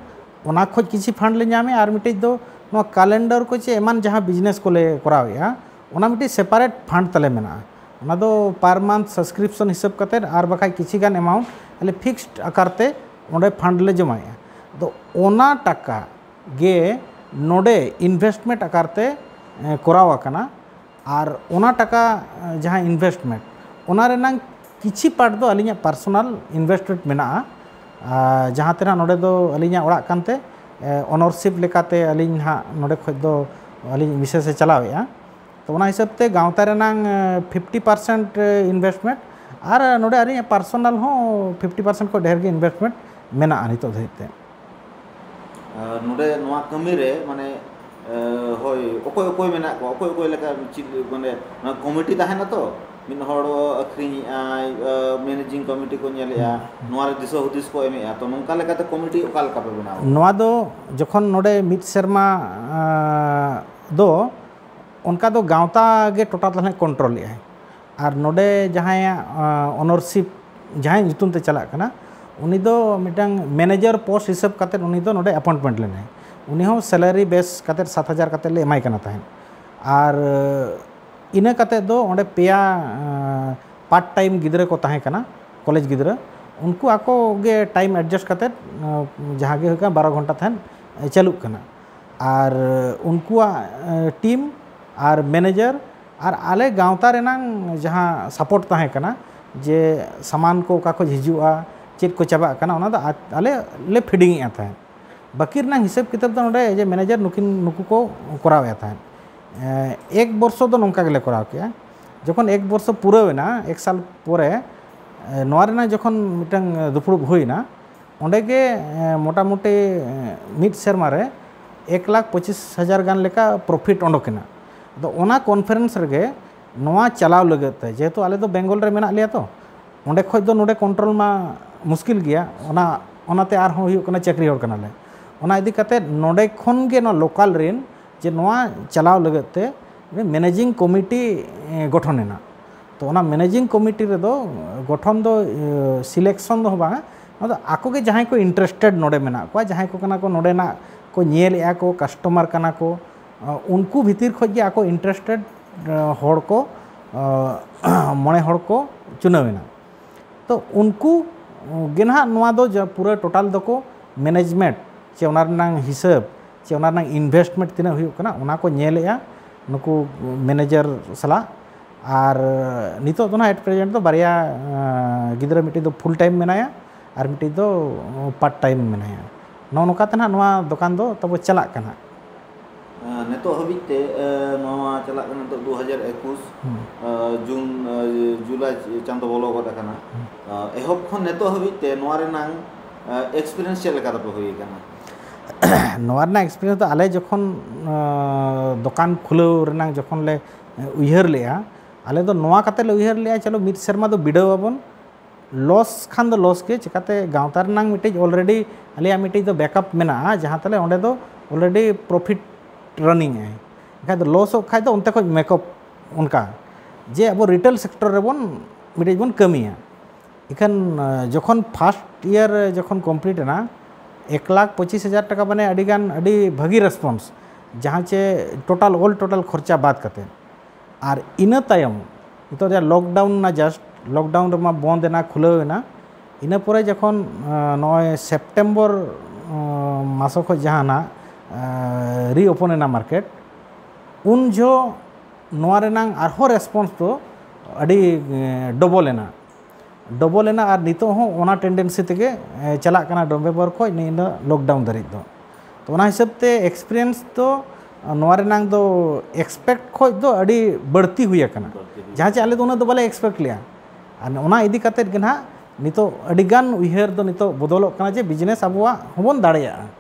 ᱚᱱᱟ ᱠᱷᱚᱱ ᱠᱤᱪᱷᱩ ᱯᱷᱟᱱᱰ ᱞᱮ ᱧᱟᱢᱮᱜᱼᱟ ᱟᱨ ᱢᱤᱫᱴᱤᱡ ᱫᱚ ᱱᱚᱣᱟ ᱠᱟᱞᱮᱱᱰᱟᱨ ᱠᱚ ᱪᱮ ᱮᱢᱟᱱ ᱡᱟᱦᱟᱸ ᱵᱤᱡᱽᱱᱮᱥ ᱠᱚᱞᱮ ᱠᱚᱨᱟᱣᱮᱜᱼᱟ ᱚᱱᱟ ᱢᱤᱫᱴᱤᱡ ᱥᱮᱯᱟᱨᱮᱴ ᱯᱷᱟᱱᱰ ᱛᱟᱞᱮ ᱢᱮᱱᱟᱜᱼᱟ ᱚᱱᱟ ᱫᱚ ᱯᱟᱨ ᱢᱟᱱᱛᱷ ᱥᱟᱵᱥᱠᱨᱤᱯᱥᱚᱱ ᱦᱤᱥᱟᱹᱵ ᱠᱟᱛᱮ ᱟᱨ ᱵᱟᱠᱷᱟᱡ ᱠᱤᱪᱷᱤ ᱜᱟᱱ ᱮᱢᱟᱣᱩᱱᱴ ᱟᱞᱮ ᱯᱷᱤᱠᱥᱰ ᱟᱠᱟᱨ ᱛᱮ ᱚᱸᱰᱮ ᱯᱷᱟᱱᱰ ᱞᱮ ᱡᱚᱢᱟᱭᱮᱜᱼᱟ ᱟᱫᱚ ᱚᱱᱟ ᱴᱟᱠᱟ ᱜᱮ ᱱᱚᱰᱮ ᱤᱱᱵᱷᱮᱥᱴᱢᱮᱱᱴ ᱟᱠᱟᱨ ᱛᱮ ᱠᱚᱨᱟᱣ ᱟᱠᱟᱱᱟ ᱟᱨ ᱚᱱᱟ ᱴᱟᱠᱟ ᱡᱟᱦᱟᱸ ᱤᱱᱵᱷᱮᱥᱴᱢᱮᱱᱴ ᱚᱱᱟ ᱨᱮᱱᱟᱝ ᱠᱤᱪᱷᱤ ᱯᱟᱨᱴ ᱫᱚ ᱟᱹᱞᱤᱧᱟᱜ ᱯᱟᱨᱥᱚᱱᱟᱞ ᱤᱱᱵᱷᱮᱥᱴᱢᱮᱱᱴ ᱢᱮᱱᱟᱜᱼᱟ ᱟᱨ ᱡᱟᱦᱟᱸ ᱛᱮ ᱱᱟᱦᱟᱜ ᱱᱚᱰᱮ ᱫᱚ ᱟᱹᱞᱤᱧᱟᱜ ᱚᱲᱟᱜ ᱠᱟᱱᱛᱮ ᱚᱱᱟᱨᱥᱤᱯ ᱞᱮᱠᱟᱛᱮ ᱟᱹᱞᱤᱧ ᱱᱟᱦᱟᱜ ᱱᱚᱰᱮ ᱠᱷᱚᱱ ᱫᱚ ᱟᱹᱞᱤᱧᱤᱡ ᱢᱤᱥᱮᱥ ᱮ ᱪᱟᱞᱟᱣᱮᱫᱼᱟ ᱛᱳ ᱚᱱᱟ ᱦᱤᱥᱟᱹᱵᱽ ᱛᱮ ᱜᱟᱶᱛᱟ ᱨᱮᱱᱟᱜ ᱯᱷᱤᱯᱴᱤ ᱯᱟᱨᱥᱮᱱᱴ ᱤᱱᱵᱷᱮᱥᱴᱢᱮᱱᱴ ᱟᱨ ᱱᱚᱰᱮ ᱟᱹᱞᱤᱧᱟᱜ ᱯᱟᱨᱥᱳᱱᱟᱞ ᱦᱚᱸ ᱯᱷᱤᱯᱴᱤ ᱯᱟᱨᱥᱮᱱᱴ ᱠᱷᱚᱱ ᱰᱷᱮᱨ ᱜᱮ ᱤᱱᱵᱷᱮᱥᱴᱢᱮᱱᱴ ᱢᱮᱱᱟᱜᱼᱟ ᱱᱤᱛᱚᱜ ᱫᱷᱟᱹᱵᱤᱡ ᱛᱮ ᱱᱚᱰᱮ ᱱᱚᱣᱟ ᱠᱟᱹᱢᱤ ᱨᱮ ᱢᱟᱱᱮ ᱦᱳᱭ ᱚᱠᱚᱭ ᱚᱠᱚᱭ ᱢᱮᱱᱟᱜ ᱠᱚᱣᱟ ᱚᱠᱚᱭ ᱚᱠᱚᱭ ᱞᱮᱠᱟ ᱪᱮᱫ ᱢᱟᱱᱮ ᱱᱚᱣᱟ ᱠᱚᱢᱤᱴᱤ ᱛᱟᱦᱮᱱᱟ ᱛᱚ ᱢᱤᱫ ᱦᱚᱲ ᱟᱹᱠᱷᱨᱤᱧᱮᱫᱼᱟᱭ ᱢᱮᱱᱮᱡᱤᱝ ᱠᱚᱢᱤᱴᱤ ᱠᱚ ᱧᱮᱞᱮᱫᱼᱟ ᱱᱚᱣᱟ ᱨᱮ ᱫᱤᱥᱟᱹ ᱦᱩᱫᱤᱥ ᱠᱚ ᱮᱢᱮᱫᱼᱟ ᱛᱚ ᱱᱚᱝᱠᱟ ᱞᱮᱠᱟᱛᱮ ᱠᱚᱢᱤᱴᱤ ᱚᱠᱟ ᱞᱮᱠᱟ ᱯᱮ ᱵᱮᱱᱟᱣᱟ ᱱᱚᱣᱟ ᱫᱚ ᱡᱚᱠᱷᱚᱱ ᱱᱚᱰᱮ ᱢᱤᱫ ᱥᱮᱨᱢᱟ ᱫᱚ ᱚᱱᱠᱟ ᱫᱚ ᱜᱟᱶᱛᱟ ᱜᱮ ᱴᱳᱴᱟᱞ ᱫᱚ ᱦᱟᱸᱜ ᱠᱚᱱᱴᱨᱳᱞᱮᱫᱼᱟᱭ ᱟᱨ ᱱᱚᱰᱮ ᱡᱟᱦᱟᱸᱭᱟᱜ ᱚᱱᱚᱨᱥᱤᱯ ᱡᱟᱦᱟᱸᱭ ᱧᱩᱛᱩᱢ ᱛᱮ ᱪᱟᱞᱟᱜ ᱠᱟᱱᱟ ᱩᱱᱤ ᱫᱚ ᱢᱤᱫᱴᱟᱝ ᱢᱮᱱᱮᱡᱟᱨ ᱯᱳᱥᱴ ᱦᱤᱥᱟᱹᱵ ᱠᱟᱛᱮᱫ ᱩᱱᱤ ᱫᱚ ᱱᱚᱰᱮ ᱮᱯᱚᱭᱮᱱᱴᱢᱮᱱᱴ ᱞᱮᱱᱟᱭ ᱩᱱᱤ ᱦᱚᱸ ᱥᱮᱞᱟᱨᱤ ᱵᱮᱥ ᱠᱟᱛᱮᱫ ᱥᱟᱛ ᱦᱟᱡᱟᱨ ᱠᱟᱛᱮᱫ ᱞᱮ ᱮᱢᱟᱭ ᱠᱟᱱᱟ ᱛᱟᱦᱮᱸᱫ ᱟᱨ ᱤᱱᱟᱹ ᱠᱟᱛᱮᱫ ᱫᱚ ᱚᱸᱰᱮ ᱯᱮᱭᱟ ᱯᱟᱨᱴ ᱴᱟᱭᱤᱢ ᱜᱤᱫᱽᱨᱟᱹ ᱠᱚ ᱛᱟᱦᱮᱸ ᱠᱟᱱᱟ ᱠᱚᱞᱮᱡᱽ ᱜᱤᱫᱽᱨᱟᱹ ᱩᱱᱠᱩ ᱟᱠᱚ ᱜᱮ ᱴᱟᱭᱤᱢ ᱮᱰᱡᱟᱥᱴ ᱠᱟᱛᱮᱫ ᱡᱟᱦᱟᱸ ᱜᱮ ᱦᱩᱭᱩᱜ ᱠᱟᱱᱟ ᱵᱟᱨᱚ ᱜᱷᱚᱱᱴᱟ ᱛᱟᱦᱮᱸᱫ ᱪᱟᱹᱞᱩᱜ ᱠᱟᱱᱟ ᱟᱨ ᱩᱱᱠᱩᱣᱟᱜ ᱴᱤᱢ ᱟᱨ ᱢᱮᱱᱮᱡᱟᱨ ᱟᱨ ᱟᱞᱮ ᱜᱟᱶᱛᱟ ᱨᱮᱱᱟᱝ ᱡᱟᱦᱟᱸ ᱥᱟᱯᱳᱨᱴ ᱛᱟᱦᱮᱸ ᱠᱟᱱᱟ ᱡᱮ ᱥᱟᱢᱟᱱ ᱠᱚ ᱚᱠᱟ ᱠᱷᱚᱱ ᱦᱤᱡᱩᱜᱼᱟ ᱪᱮᱫ ᱠᱚ ᱪᱟᱵᱟᱜ ᱠᱟᱱᱟ ᱚᱱᱟ ᱫᱚ ᱟᱞᱮ ᱞᱮ ᱯᱷᱤᱰᱤᱝ ᱮᱫ ᱛᱟᱦᱮᱸᱫ ᱵᱟᱹᱠᱤ ᱨᱮᱱᱟᱜ ᱦᱤᱥᱟᱹᱵ ᱠᱤᱛᱟᱹᱵ ᱫᱚ ᱱᱚᱰᱮ ᱡᱮ ᱢᱮᱱᱮᱡᱟᱨ ᱱᱩᱠᱤᱱ ᱱᱩᱠᱩ ᱠᱚ ᱠᱚᱨᱟᱣ ᱮᱫ ᱛᱟᱦᱮᱸᱫ ᱮᱠ ᱵᱚᱨᱥᱚ ᱫᱚ ᱱᱚᱝᱠᱟ ᱜᱮᱞᱮ ᱠᱚᱨᱟᱣ ᱠᱮᱜᱼᱟ ᱡᱚᱠᱷᱚᱱ ᱮᱠ ᱵᱚᱨᱥᱚ ᱯᱩᱨᱟᱹᱣ ᱮᱱᱟ ᱮᱠ ᱥᱟᱞ ᱯᱚᱨᱮ ᱱᱚᱣᱟ ᱨᱮᱱᱟᱜ ᱡᱚᱠᱷᱚᱱ ᱢᱤᱫᱴᱟᱝ ᱫᱩᱯᱲᱩᱵ ᱦᱩᱭ ᱮᱱᱟ ᱚᱸᱰᱮ ᱜᱮ ᱢᱳᱴᱟᱢᱩᱴᱤ ᱢᱤᱫ ᱥᱮᱨᱢᱟ ᱨᱮ ᱮᱠ ᱞᱟᱠᱷ ᱯᱚᱸᱪᱤᱥ ᱦᱟᱡᱟᱨ ᱜᱟᱱ ᱞᱮᱠᱟ ᱯᱨᱚᱯᱷᱤᱴ ᱚᱰᱚᱠ ᱮᱱᱟ ᱟᱫᱚ ᱚᱱᱟ ᱠᱚᱱᱯᱷᱟᱨᱮᱱᱥ ᱨᱮᱜᱮ ᱱᱚᱣᱟ ᱪᱟᱞᱟᱣ ᱞᱟᱹᱜᱤᱫ ᱛᱮ ᱡᱮᱦᱮᱛᱩ ᱟᱞᱮ ᱫᱚ ᱵᱮᱝᱜᱚᱞ ᱨᱮ ᱢᱮᱱᱟᱜ ᱞᱮᱭᱟ ᱛᱚ ᱚᱸᱰᱮ ᱠᱷᱚᱱ ᱫᱚ ᱱᱚᱸᱰᱮ ᱠᱚᱱᱴᱨᱳᱞ ᱢᱟ ᱢᱩᱥᱠᱤᱞ ᱜᱮᱭᱟ ᱚᱱᱟ ᱚᱱᱟᱛᱮ ᱟᱨᱦᱚᱸ ᱦᱩᱭᱩᱜ ᱠᱟᱱᱟ ᱪᱟᱹᱠᱨᱤ ᱦᱚᱲ ᱠᱟᱱᱟᱞᱮ ᱚᱱᱟ ᱤᱫᱤ ᱠᱟᱛᱮᱫ ᱱᱚᱸᱰᱮ ᱠᱷᱚᱱ ᱜᱮ ᱱᱚᱣᱟ ᱞᱳᱠᱟᱞ ᱨᱮᱱ ᱡᱮ ᱱᱚᱣᱟ ᱪᱟᱞᱟᱣ ᱞᱟᱹᱜᱤᱫ ᱛᱮ ᱢᱮᱱᱮᱡᱤᱝ ᱠᱚᱢᱤᱴᱤ ᱜᱚᱴᱷᱚᱱ ᱮᱱᱟ ᱛᱚ ᱚᱱᱟ ᱢᱮᱱᱮᱡᱤᱝ ᱠᱚᱢᱤᱴᱤ ᱨᱮᱫᱚ ᱜᱚᱴᱷᱚᱱ ᱫᱚ ᱥᱤᱞᱮᱠᱥᱚᱱ ᱫᱚ ᱵᱟᱝ ᱟᱫᱚ ᱟᱠᱚ ᱜᱮ ᱡᱟᱦᱟᱸᱭ ᱠᱚ ᱤᱱᱴᱟᱨᱮᱥᱴᱮᱰ ᱱᱚᱸᱰᱮ ᱢᱮᱱᱟᱜ ᱠᱚᱣᱟ ᱡᱟᱦᱟᱸᱭ ᱠᱚ ᱠᱟᱱᱟ ᱠᱚ ᱱᱚᱸᱰᱮᱱᱟᱜ ᱠᱚ ᱧᱮᱞᱮᱜᱼᱟ ᱠᱚ ᱠᱟᱥᱴᱚᱢᱟᱨ ᱠᱟᱱᱟ ᱠᱚ ᱩᱱᱠᱩ ᱵᱷᱤᱛᱤᱨ ᱠᱷᱚᱱ ᱜᱮ ᱟᱠᱚ ᱤᱱᱴᱟᱨᱮᱥᱴᱮᱰ ᱦᱚᱲ ᱠᱚ ᱢᱚᱬᱮ ᱦᱚᱲ ᱠᱚ ᱪᱩᱱᱟᱹᱣ ᱮᱱᱟ ᱛᱚ ᱩᱱᱠᱩ ᱜᱮ ᱱᱟᱦᱟᱜ ᱱᱚᱣᱟ ᱫᱚ ᱯᱩᱨᱟᱹ ᱴᱳᱴᱟᱞ ᱫᱚᱠᱚ ᱢᱮᱱᱮᱡᱽᱢᱮᱱᱴ ᱥᱮ ᱚᱱᱟ ᱨᱮᱱᱟᱜ ᱦᱤᱥᱟᱹᱵᱽ ᱥᱮ ᱚᱱᱟ ᱨᱮᱱᱟᱜ ᱤᱱᱵᱷᱮᱥᱴᱢᱮᱱᱴ ᱛᱤᱱᱟᱹᱜ ᱦᱩᱭᱩᱜ ᱠᱟᱱᱟ ᱚᱱᱟ ᱠᱚ ᱧᱮᱞᱮᱫᱼᱟ ᱱᱩᱠᱩ ᱢᱮᱱᱮᱡᱟᱨ ᱥᱟᱞᱟᱜ ᱟᱨ ᱱᱤᱛᱚᱜ ᱫᱚ ᱱᱟᱦᱟᱜ ᱮᱴ ᱯᱨᱮᱡᱮᱱᱴ ᱫᱚ ᱵᱟᱨᱭᱟ ᱜᱤᱫᱽᱨᱟᱹ ᱢᱤᱫᱴᱤᱡ ᱫᱚ ᱯᱷᱩᱞ ᱴᱟᱭᱤᱢ ᱢᱮᱱᱟᱭᱟ ᱟᱨ ᱢᱤᱫᱴᱤᱡ ᱫᱚ ᱯᱟᱨᱴ ᱴᱟᱭᱤᱢ ᱢᱮᱱᱟᱭᱟ ᱱᱚᱜᱼᱚ ᱱᱚᱝᱠᱟ ᱛᱮ ᱱᱟᱦᱟᱜ ᱱᱚᱣᱟ ᱫᱚᱠᱟᱱ ᱫᱚ ᱛᱟᱵᱚ ᱪᱟᱞᱟᱜ ᱠᱟᱱᱟ ᱱᱤᱛᱚᱜ ᱦᱟᱹᱵᱤᱡ ᱛᱮ ᱱᱚᱣᱟ ᱪᱟᱞᱟᱜ ᱠᱟᱱᱟ ᱱᱤᱛᱚᱜ ᱫᱩ ᱦᱟᱡᱟᱨ ᱮᱠᱩᱥ ᱡᱩᱱ ᱡᱩᱞᱟᱭ ᱪᱟᱸᱫᱚ ᱵᱚᱞᱚ ᱜᱚᱫ ᱟᱠᱟᱱᱟ ᱮᱦᱚᱵ ᱠᱷᱚᱱ ᱱᱤᱛᱚᱜ ᱦᱟᱹᱵᱤᱡ ᱛᱮ ᱱᱚᱣᱟ ᱨᱮᱱᱟᱝ ᱮᱠᱥᱯᱮᱨᱤᱭᱮᱱᱥ ᱪᱮᱫ ᱞᱮᱠᱟ ᱛᱟᱯᱮ ᱦᱩᱭ ᱟᱠᱟᱱᱟ ᱱᱚᱣᱟ ᱨᱮᱱᱟᱜ ᱮᱠᱥᱯᱮᱨᱤᱭᱮᱱᱥ ᱫᱚ ᱟᱞᱮ ᱡᱚᱠᱷᱚᱱ ᱫᱚᱠᱟᱱ ᱠᱷᱩᱞᱟᱹᱣ ᱨᱮᱱᱟᱜ ᱡᱚᱠᱷᱚᱱ ᱞᱮ ᱩᱭᱦᱟᱹᱨ ᱞᱮᱜᱼᱟ ᱟᱞᱮ ᱫᱚ ᱱᱚᱣᱟ ᱠᱟᱛᱮᱫ ᱞᱮ ᱩᱭᱦᱟᱹᱨ ᱞᱮᱜᱼᱟ ᱪᱚᱞᱚ ᱢᱤᱫ ᱥᱮᱨᱢᱟ ᱫᱚ ᱵᱤᱰᱟᱹᱣ ᱟᱵᱚᱱ ᱞᱚᱥ ᱠᱷᱟᱱ ᱫᱚ ᱞᱚᱥ ᱜᱮ ᱪᱮᱠᱟᱛᱮ ᱜᱟᱶᱛᱟ ᱨᱮᱱᱟᱝ ᱢᱤᱫᱴᱤᱡ ᱚᱞᱨᱮᱰᱤ ᱟᱞᱮᱭᱟᱜ ᱢᱤᱫᱴᱤᱡ ᱫᱚ ᱵᱮᱠᱟᱯ ᱢᱮᱱᱟᱜᱼᱟ ᱡᱟᱦᱟᱸ ᱛᱟᱞᱮ ᱚᱸᱰᱮ ᱫᱚ ᱚᱞᱨᱮᱰᱤ ᱯᱨᱚᱯᱷᱤᱴ ᱨᱟᱱᱤᱝ ᱟᱭ ᱮᱱᱠᱷᱟᱡ ᱫᱚ ᱞᱚᱥᱚᱜ ᱠᱷᱟᱡ ᱫᱚ ᱚᱱᱛᱮ ᱠᱷᱚᱡ ᱢᱮᱠᱟᱯ ᱚᱱᱠᱟ ᱡᱮ ᱟᱵᱚ ᱨᱤᱴᱮᱞ ᱥᱮᱠᱴᱚᱨ ᱨᱮᱵᱚᱱ ᱢᱤᱫᱴᱤᱡ ᱵᱚᱱ ᱠᱟᱹᱢᱤᱭᱟ ᱤᱠᱷᱟᱹᱱ ᱡᱚᱠᱷᱚᱱ ᱯᱷᱟᱥᱴ ᱤᱭᱟᱨ ᱡᱚᱠᱷᱚᱱ ᱠᱚᱢᱯᱞᱤᱴ ᱮᱱᱟ ᱮᱠ ᱞᱟᱠᱷ ᱯᱚᱸᱪᱤᱥ ᱦᱟᱡᱟᱨ ᱴᱟᱠᱟ ᱢᱟᱱᱮ ᱟᱹᱰᱤ ᱜᱟᱱ ᱟᱹᱰᱤ ᱵᱷᱟᱹᱜᱤ ᱨᱮᱥᱯᱚᱱᱥ ᱡᱟᱦᱟᱸ ᱪᱮ ᱴᱳᱴᱟᱞ ᱚᱞ ᱴᱳᱴᱟᱞ ᱠᱷᱚᱨᱪᱟ ᱵᱟᱫ ᱠᱟᱛᱮ ᱟᱨ ᱤᱱᱟᱹ ᱛᱟᱭᱚᱢ ᱱᱤᱛᱚᱜ ᱡᱟᱦᱟᱸ ᱞᱚᱠᱰᱟᱣᱩᱱ ᱮᱱᱟ ᱡᱟᱥᱴ ᱞᱚᱠᱰᱟᱣᱩᱱ ᱨᱮᱢᱟ ᱵᱚᱸᱫᱽ ᱮᱱᱟ ᱠᱷᱩᱞᱟᱹᱣ ᱮᱱᱟ ᱤᱱᱟᱹ ᱯᱚᱨᱮ ᱡᱚᱠᱷᱚᱱ ᱱᱚᱜᱼᱚᱭ ᱥᱮᱯᱴᱮᱢᱵᱚᱨ ᱢᱟᱥ ᱠᱷᱚᱱ ᱡᱟᱦᱟᱸ ᱱᱟᱜ ᱨᱤ ᱳᱯᱮᱱ ᱮᱱᱟ ᱢᱟᱨᱠᱮᱴ ᱩᱱ ᱡᱚᱦᱚᱜ ᱱᱚᱣᱟ ᱨᱮᱱᱟᱜ ᱟᱨᱦᱚᱸ ᱨᱮᱥᱯᱚᱱᱥ ᱫᱚ ᱟᱹᱰᱤ ᱰᱚᱵᱚᱞ ᱮᱱᱟ ᱰᱚᱵᱚᱞ ᱮᱱᱟ ᱟᱨ ᱱᱤᱛᱚᱜ ᱦᱚᱸ ᱚᱱᱟ ᱴᱮᱱᱰᱮᱱᱥᱤ ᱛᱮᱜᱮ ᱪᱟᱞᱟᱜ ᱠᱟᱱᱟ ᱱᱚᱵᱷᱮᱢᱵᱚᱨ ᱠᱷᱚᱱ ᱱᱤᱭᱟᱹ ᱞᱚᱠᱰᱟᱣᱩᱱ ᱫᱷᱟᱹᱨᱤᱡ ᱫᱚ ᱛᱚ ᱚᱱᱟ ᱦᱤᱥᱟᱹᱵ ᱛᱮ ᱮᱠᱥᱯᱨᱤᱭᱮᱱᱥ ᱫᱚ ᱱᱚᱣᱟ ᱨᱮᱱᱟᱜ ᱫᱚ ᱮᱠᱥᱯᱮᱠᱴ ᱠᱷᱚᱱ ᱫᱚ ᱟᱹᱰᱤ ᱵᱟᱹᱲᱛᱤ ᱦᱩᱭ ᱟᱠᱟᱱᱟ ᱡᱟᱦᱟᱸ ᱪᱮ ᱟᱞᱮ ᱫᱚ ᱩᱱᱟᱹᱜ ᱫᱚ ᱵᱟᱞᱮ ᱮᱠᱥᱯᱮᱠᱴ ᱞᱮᱜᱼᱟ ᱟᱨ ᱚᱱᱟ ᱤᱫᱤ ᱠᱟᱛᱮᱫ ᱜᱮ ᱱᱟᱦᱟᱜ ᱱᱤᱛᱚᱜ ᱟᱹᱰᱤ ᱜᱟᱱ ᱩᱭᱦᱟᱹᱨ ᱫᱚ ᱱᱤᱛᱚᱜ ᱵᱚᱫᱚᱞᱚᱜ ᱠᱟᱱᱟ ᱡᱮ ᱵᱤᱡᱽᱱᱮᱥ ᱟᱵᱚᱣᱟᱜ ᱦᱚᱸᱵᱚᱱ ᱫᱟᱲᱮᱭᱟᱜᱼᱟ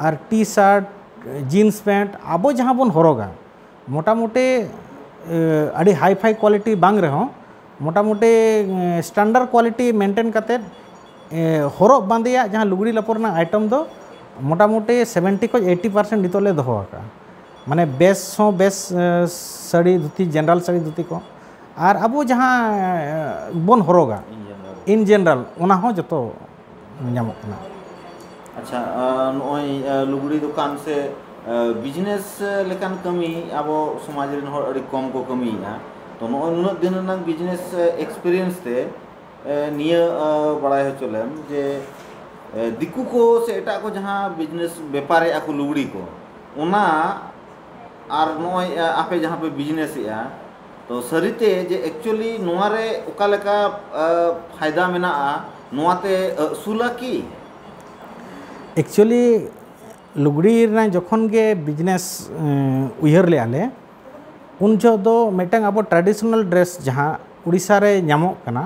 ᱟᱨ ᱴᱤ ᱥᱟᱨᱴ ᱡᱤᱱᱥ ᱯᱮᱱᱴ ᱟᱵᱚ ᱡᱟᱦᱟᱸ ᱵᱚᱱ ᱦᱚᱨᱚᱜᱟ ᱢᱚᱴᱟᱢᱩᱴᱤ ᱟᱹᱰᱤ ᱦᱟᱭ ᱯᱷᱟᱭ ᱠᱚᱣᱟᱞᱤᱴᱤ ᱵᱟᱝ ᱨᱮᱦᱚᱸ ᱢᱚᱴᱟᱢᱩᱴᱤ ᱥᱴᱟᱱᱰᱟᱨᱰ ᱠᱚᱣᱟᱞᱤᱴᱤ ᱢᱮᱱᱴᱮᱱ ᱠᱟᱛᱮᱫ ᱦᱚᱨᱚᱜ ᱵᱟᱸᱫᱮᱭᱟᱜ ᱡᱟᱦᱟᱸ ᱞᱩᱜᱽᱲᱤ ᱞᱟᱯᱚ ᱨᱮᱱᱟᱜ ᱟᱭᱴᱮᱢ ᱫᱚ ᱢᱚᱴᱟᱢᱩᱴᱤ ᱥᱮᱵᱷᱮᱱᱴᱤ ᱠᱷᱚᱱ ᱮᱭᱤᱴᱤ ᱯᱟᱨᱥᱮᱱᱴ ᱱᱤᱛᱚᱜ ᱞᱮ ᱫᱚᱦᱚ ᱟᱠᱟᱫᱼᱟ ᱢᱟᱱᱮ ᱵᱮᱥ ᱦᱚᱸ ᱵᱮᱥ ᱥᱟᱹᱲᱤ ᱫᱷᱩᱛᱤ ᱡᱮᱱᱟᱨᱮᱞ ᱥᱟᱹᱲᱤ ᱫᱷᱩᱛᱤ ᱠᱚ ᱟᱨ ᱟᱵᱚ ᱡᱟᱦᱟᱸ ᱵᱚᱱ ᱦᱚᱨᱚᱜᱟ ᱤᱱ ᱡᱮᱱᱟᱨᱮᱞ ᱚᱱᱟ ᱦᱚᱸ ᱡᱚᱛᱚ ᱧᱟᱢᱚᱜ ᱠᱟᱱᱟ᱾ ᱟᱪᱪᱷᱟ ᱱᱚᱜᱼᱚᱭ ᱞᱩᱜᱽᱲᱤ ᱫᱚᱠᱟᱱ ᱥᱮ ᱵᱤᱡᱽᱱᱮᱥ ᱞᱮᱠᱟᱱ ᱠᱟᱹᱢᱤ ᱟᱵᱚ ᱥᱚᱢᱟᱡᱽ ᱨᱮᱱ ᱦᱚᱲ ᱟᱹᱰᱤ ᱠᱚᱢ ᱠᱚ ᱠᱟᱹᱢᱤᱭᱮᱫᱼᱟ᱾ ᱛᱚ ᱱᱚᱜᱼᱚᱭ ᱱᱩᱱᱟᱹᱜ ᱫᱤᱱ ᱨᱮᱱᱟᱝ ᱵᱤᱡᱽᱱᱮᱥ ᱮᱠᱥᱯᱮᱨᱤᱭᱮᱱᱥ ᱛᱮ ᱱᱤᱭᱟᱹ ᱵᱟᱲᱟᱭ ᱦᱚᱪᱚ ᱞᱮᱢ ᱡᱮ ᱫᱤᱠᱩ ᱠᱚ ᱥᱮ ᱮᱴᱟᱜ ᱠᱚ ᱡᱟᱦᱟᱸ ᱵᱤᱡᱽᱱᱮᱥ ᱵᱮᱯᱟᱨᱮᱫᱼᱟ ᱠᱚ ᱞᱩᱜᱽᱲᱤ ᱠᱚ ᱚᱱᱟ ᱟᱨ ᱱᱚᱜᱼᱚᱭ ᱟᱯᱮ ᱡᱟᱦᱟᱸ ᱯᱮ ᱵᱤᱡᱽᱱᱮᱥᱮᱫᱼᱟ ᱛᱚ ᱥᱟᱹᱨᱤᱛᱮ ᱡᱮ ᱮᱠᱪᱩᱭᱮᱞᱤ ᱱᱚᱣᱟ ᱨᱮ ᱚᱠᱟ ᱞᱮᱠᱟ ᱯᱷᱟᱭᱫᱟ ᱢᱮᱱᱟᱜᱼᱟ ᱱᱚᱣᱟ ᱛᱮ ᱟᱹᱥᱩᱞᱟ ᱠᱤ? ᱮᱠᱪᱩᱭᱮᱞᱤ ᱞᱩᱜᱽᱲᱤ ᱨᱮᱱᱟᱜ ᱡᱚᱠᱷᱚᱱ ᱜᱮ ᱵᱤᱡᱽᱱᱮᱥ ᱩᱭᱦᱟᱹᱨ ᱞᱮᱫᱼᱟ ᱞᱮ ᱩᱱ ᱡᱚᱦᱚᱜ ᱫᱚ ᱢᱤᱫᱴᱟᱝ ᱟᱵᱚ ᱴᱨᱟᱰᱤᱥᱚᱱᱟᱞ ᱰᱨᱮᱥ ᱡᱟᱦᱟᱸ ᱩᱲᱤᱥᱥᱟ ᱨᱮ ᱧᱟᱢᱚᱜ ᱠᱟᱱᱟ